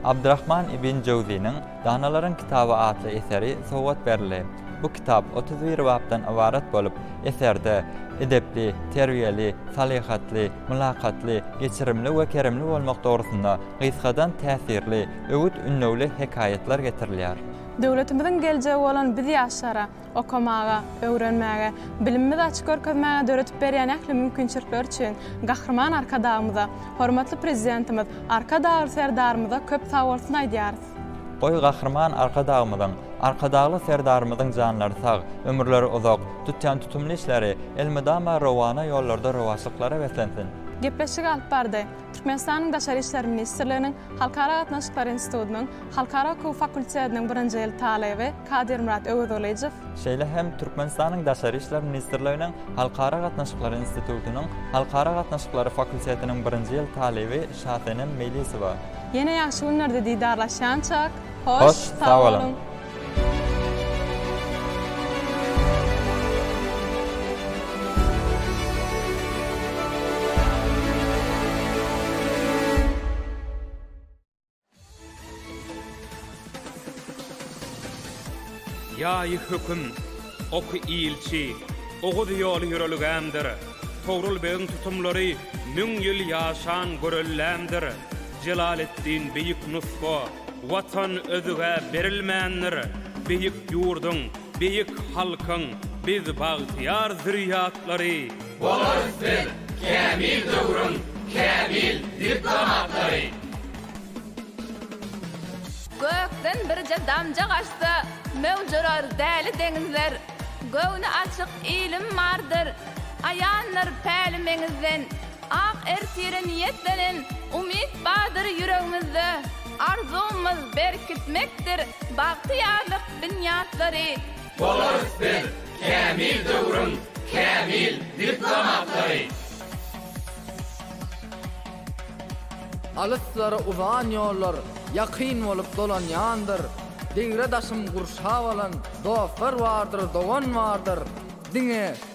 Abdyrahman ibn Jöwziniň Danalaryň kitaby atly eseri sowgat berildi. Bu kitap otuz bir bapdan ybarat bolup, eserde edepli, terbiýeli, salyhatly, mylakatly, geçirimli we keremli bolmak dogrusynda gysgadan täsirli, öwüt-ündewli hekaýatlar getirilýär. Döwletimiziň geljegi bolan biz ýaşlara, okamaga, öwrenmäge, bilimimizi açyp görkezmäge döredip berýän ähli mümkinçilikleri üçin Gahryman Arkadagymyza, hormatly Prezidentimiz Arkadagly Serdarymyza köp sag bolsun aýdýarys. Goý, Gahryman Arkadagymyzyň, Arkadagly Serdarymyzyň janlary sag, ömürleri uzak, tutýan tutumly işleri elmydama rowana ýollarda rowaçlyklara beslensin! Gepleşigi alyp bardy. Türkmenistanyň Daşary işler ministrliginiň Halkara gatnaşyklary institutynyň Halkara hukugy fakultetiniň birinji ýyl talyby Kadirmyrat Öwezgylyjow, şeýle hem Türkmenistanyň Daşary işler ministrliginiň Halkara gatnaşyklary institutynyň Halkara gatnaşyklary fakultetiniň birinji ýyl talyby Şasenem Meýlisowa. Ýene ýagşy günlerde didarlaşýançak, hoş sag boluň! Ýaýy höküm, oky ilçi, Oguz ýoly ýörelgämdir. Togrul begiň tutumlary Müň ýyl ýaşan göreldämdir. Jelaleddin beýik nusga, Watan özge berilmändir, Beýik ýurduň, beýik halkyň, Biz bagtyýar zürýatlary. Bolarys biz kämil döwrüň, Kämil diplomatlary. Gökden birje damja gaçsa, Möwjurar däli deňizler. Göwni açyk ilim bardyr, Aýandyr päli meňizden. Ak ertire niýetlenen umyt bardyr ýüregimizde, Arzuwymyz berkitmekdir bagtyýarlyk binýatlary. Bolarys biz kämil döwrüň kämil diplomatlary. Alyslara uzan ýollar ýakyn bolup dolanýandyr, Degre-daşym gurşap alan dostlar bardyr, dogan bardyr. Diňe